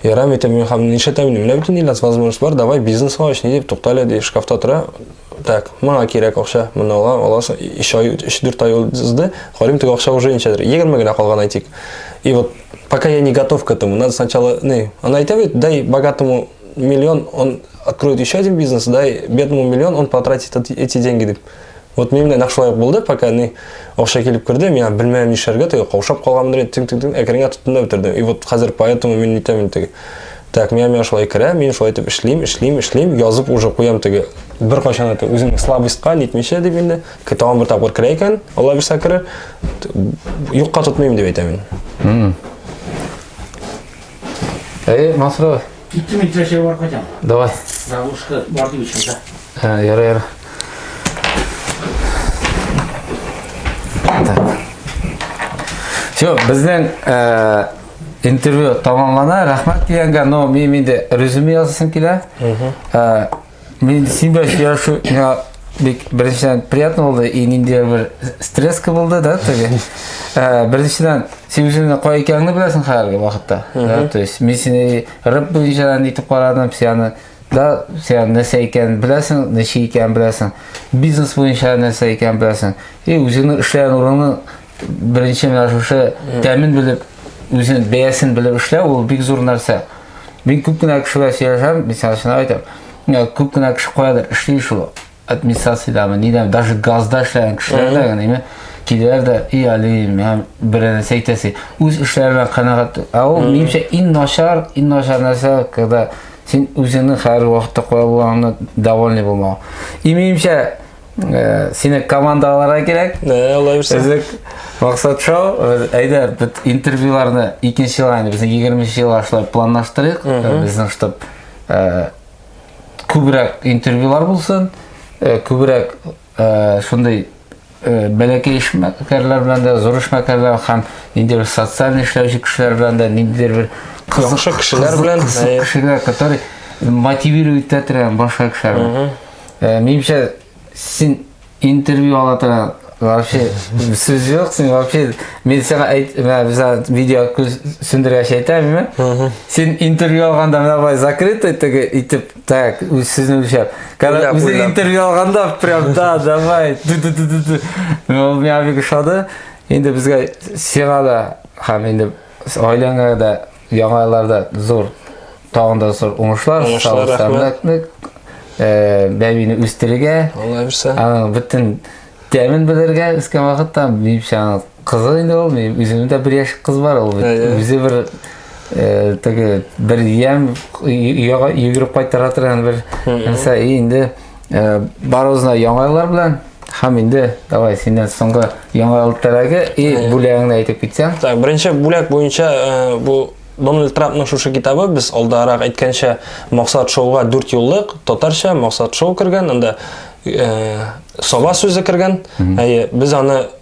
Ярам итәм, мин хам, нишләтәм инде, менә бөтен иләс возможность бар, давай бизнес ач, ни дип, туктале, ди, шкафта тора, Так, моңа кирәк акча, моны ала, аласың, 3 ай, 3-4 ай узды, карыйм, теге акча уже ничәдер, 20 генә калган әйтик. И вот, пока я не готов к этому, надо сначала, не, она и тебе, дай богатому миллион, он откроет еще один бизнес, дай бедному миллион, он потратит эти деньги, деп. Вот мен менә нәкъ булды, пока не акча килеп керде, миңа белмәм нишләргә, теге каушап калганмын, тим-тим-тим, әкренге тотынды бетерде. И вот хәзер поэтому мин нитәм инде. Так, миңа миңа шулай керә, мин шулай итеп эшлим, эшлим, эшлим, язып уже куям теге. Бер кайчан это үзеңне слабостька нитмичә дип инде. Тагын бер тапкыр керә икән, Алла бирсә керер. Юкка тотмыйм дип әйтәм мин. Әй, Масро. Киттем мин трәшәгә барып кайтам. Давай. Завушка бар дип ичмәсә. Ә, яра, яра. Так. Все, безнең э, интервью тамамлана рәхмәт дигәнгә но мин инде резюме язасым килә ә, мин син белән сөйләшү миңа бик беренчедән приятно булды и ниндидер бер стресска булды да теге ә, беренчедән син үзеңнең кая икәнеңне беләсең хәзерге вакытта да, то есть мин сине рэп буенча нитеп карадым сианы да сиан нәрсә икәнен беләсең ничек икәнен беләсең бизнес буенча нәрсә икәнен беләсең и үзеңнең эшләгән урының Беренче менә шушы тәмен белеп, үзен бәясен белеп эшләү ул бик зур нәрсә. Мин күп кенә кешегә сөйләшәм, мин сәл шуны әйтәм. Менә күп кенә кеше каядыр эшли шул администрациядәме, нидәме, даже газда эшләгән кешеләр дә генеме, киләләр дә, и Алим, һәм берәне әйтәсе. Үз эшләре белән канәгать. Ә ул минемчә иң начар, иң начар нәрсә, когда син үзеңнең хәр вакытта куя булганыңны довольный булмау. И минемчә, Э, сине командаларга кирәк ә алай булса өзек максат шоу э, әйдә бит интервьюларны икенче елга инде безнең егерменче елга шулай планлаштырыйк э, безнең штаб күбрәк интервьюлар булсын күбрәк шундый бәләкәй эшмәкәрләр белән дә зур эшмәкәрләр һәм ниндидер социаль эшләүче кешеләр белән дә ниндидер бер кызык кешеләр белән кешеләр которые мотивировать итә торган башка кешеләр Ә, минемчә, син интервью ала торган вообще сүз юк, син вообще мин сиңа әйт, менә без видео күз сүндергәч әйтәм, әйме? Син интервью алганда менә бай закрытый теге итеп, так, үз сүзне үлчәп. Когда Уйлап, үзе уйлап. интервью алганда прям да, давай. ду ду ду ду ду. Ул миңа бик ошады. Инде безгә сиңа да һәм инде гаиләңә дә Яңа елларда зур, тагын да зур уңышлар, Уңышлар, сәламәтлек, э, бәбине үстерергә, Алла бирсә. аның бөтен тәмен белергә үскән вакытта, минемчә, аның кызы инде ул, минем үземнең дә бер яшь кыз бар, ул бит Әйе. үзе бер э, теге бер ямь йөгереп кайтара торган бер нәрсә, и инде Э, барыбызны яңа еллар белән һәм инде давай синнән соңгы яңа ел теләге и э. бүләгеңне әйтеп китсәң так беренче бүләк буенча э, бу дональд трампның шушы китабы без алдарак әйткәнчә максат шоуга дүрт юллык татарча максат шоу кергән анда сова сүзе кергән әйе без аны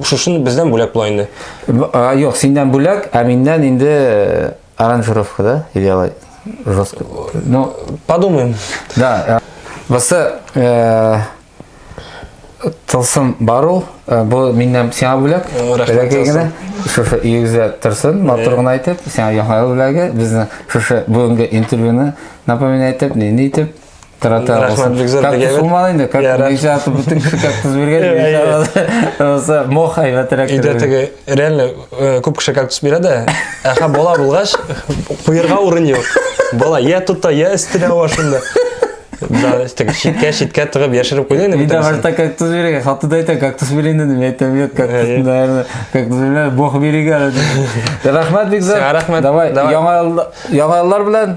Шушыны бездән бүләк була инде. Юк, синдән бүләк, ә миннән инде э, аранжировка, да? Или алай жестко. Ну, подумаем. Да. Басы э, тылсым бару, э, бу миннән сиңа бүләк. Рәхмәт генә. Шушы игезгә торсын, матур гына әйтеп, сиңа яңа бүләге, безнең шушы бүгенге интервьюны напоминать итеп, нинди итеп Тарата Рахмат бик зур дигән. Сумал инде, как ничә атып бөтен кеше кактус биргән. Оса мох әйбәтрәк. Иде теге реально э, күп кеше кактус бирә дә. Әхә бала булгач, куерга урын юк. Бала я тутта, я өстенә ва шунда. Да, теге шиткә шиткә тыгып яшереп куйды инде. Иде башта кактус биргән, хатты да әйтә кактус бирен дидем, мин әйтәм юк кактус, э, наверное, кактус бирә, бог биргән. Рахмат бик зур. Рахмат. Давай, яңа яңалар белән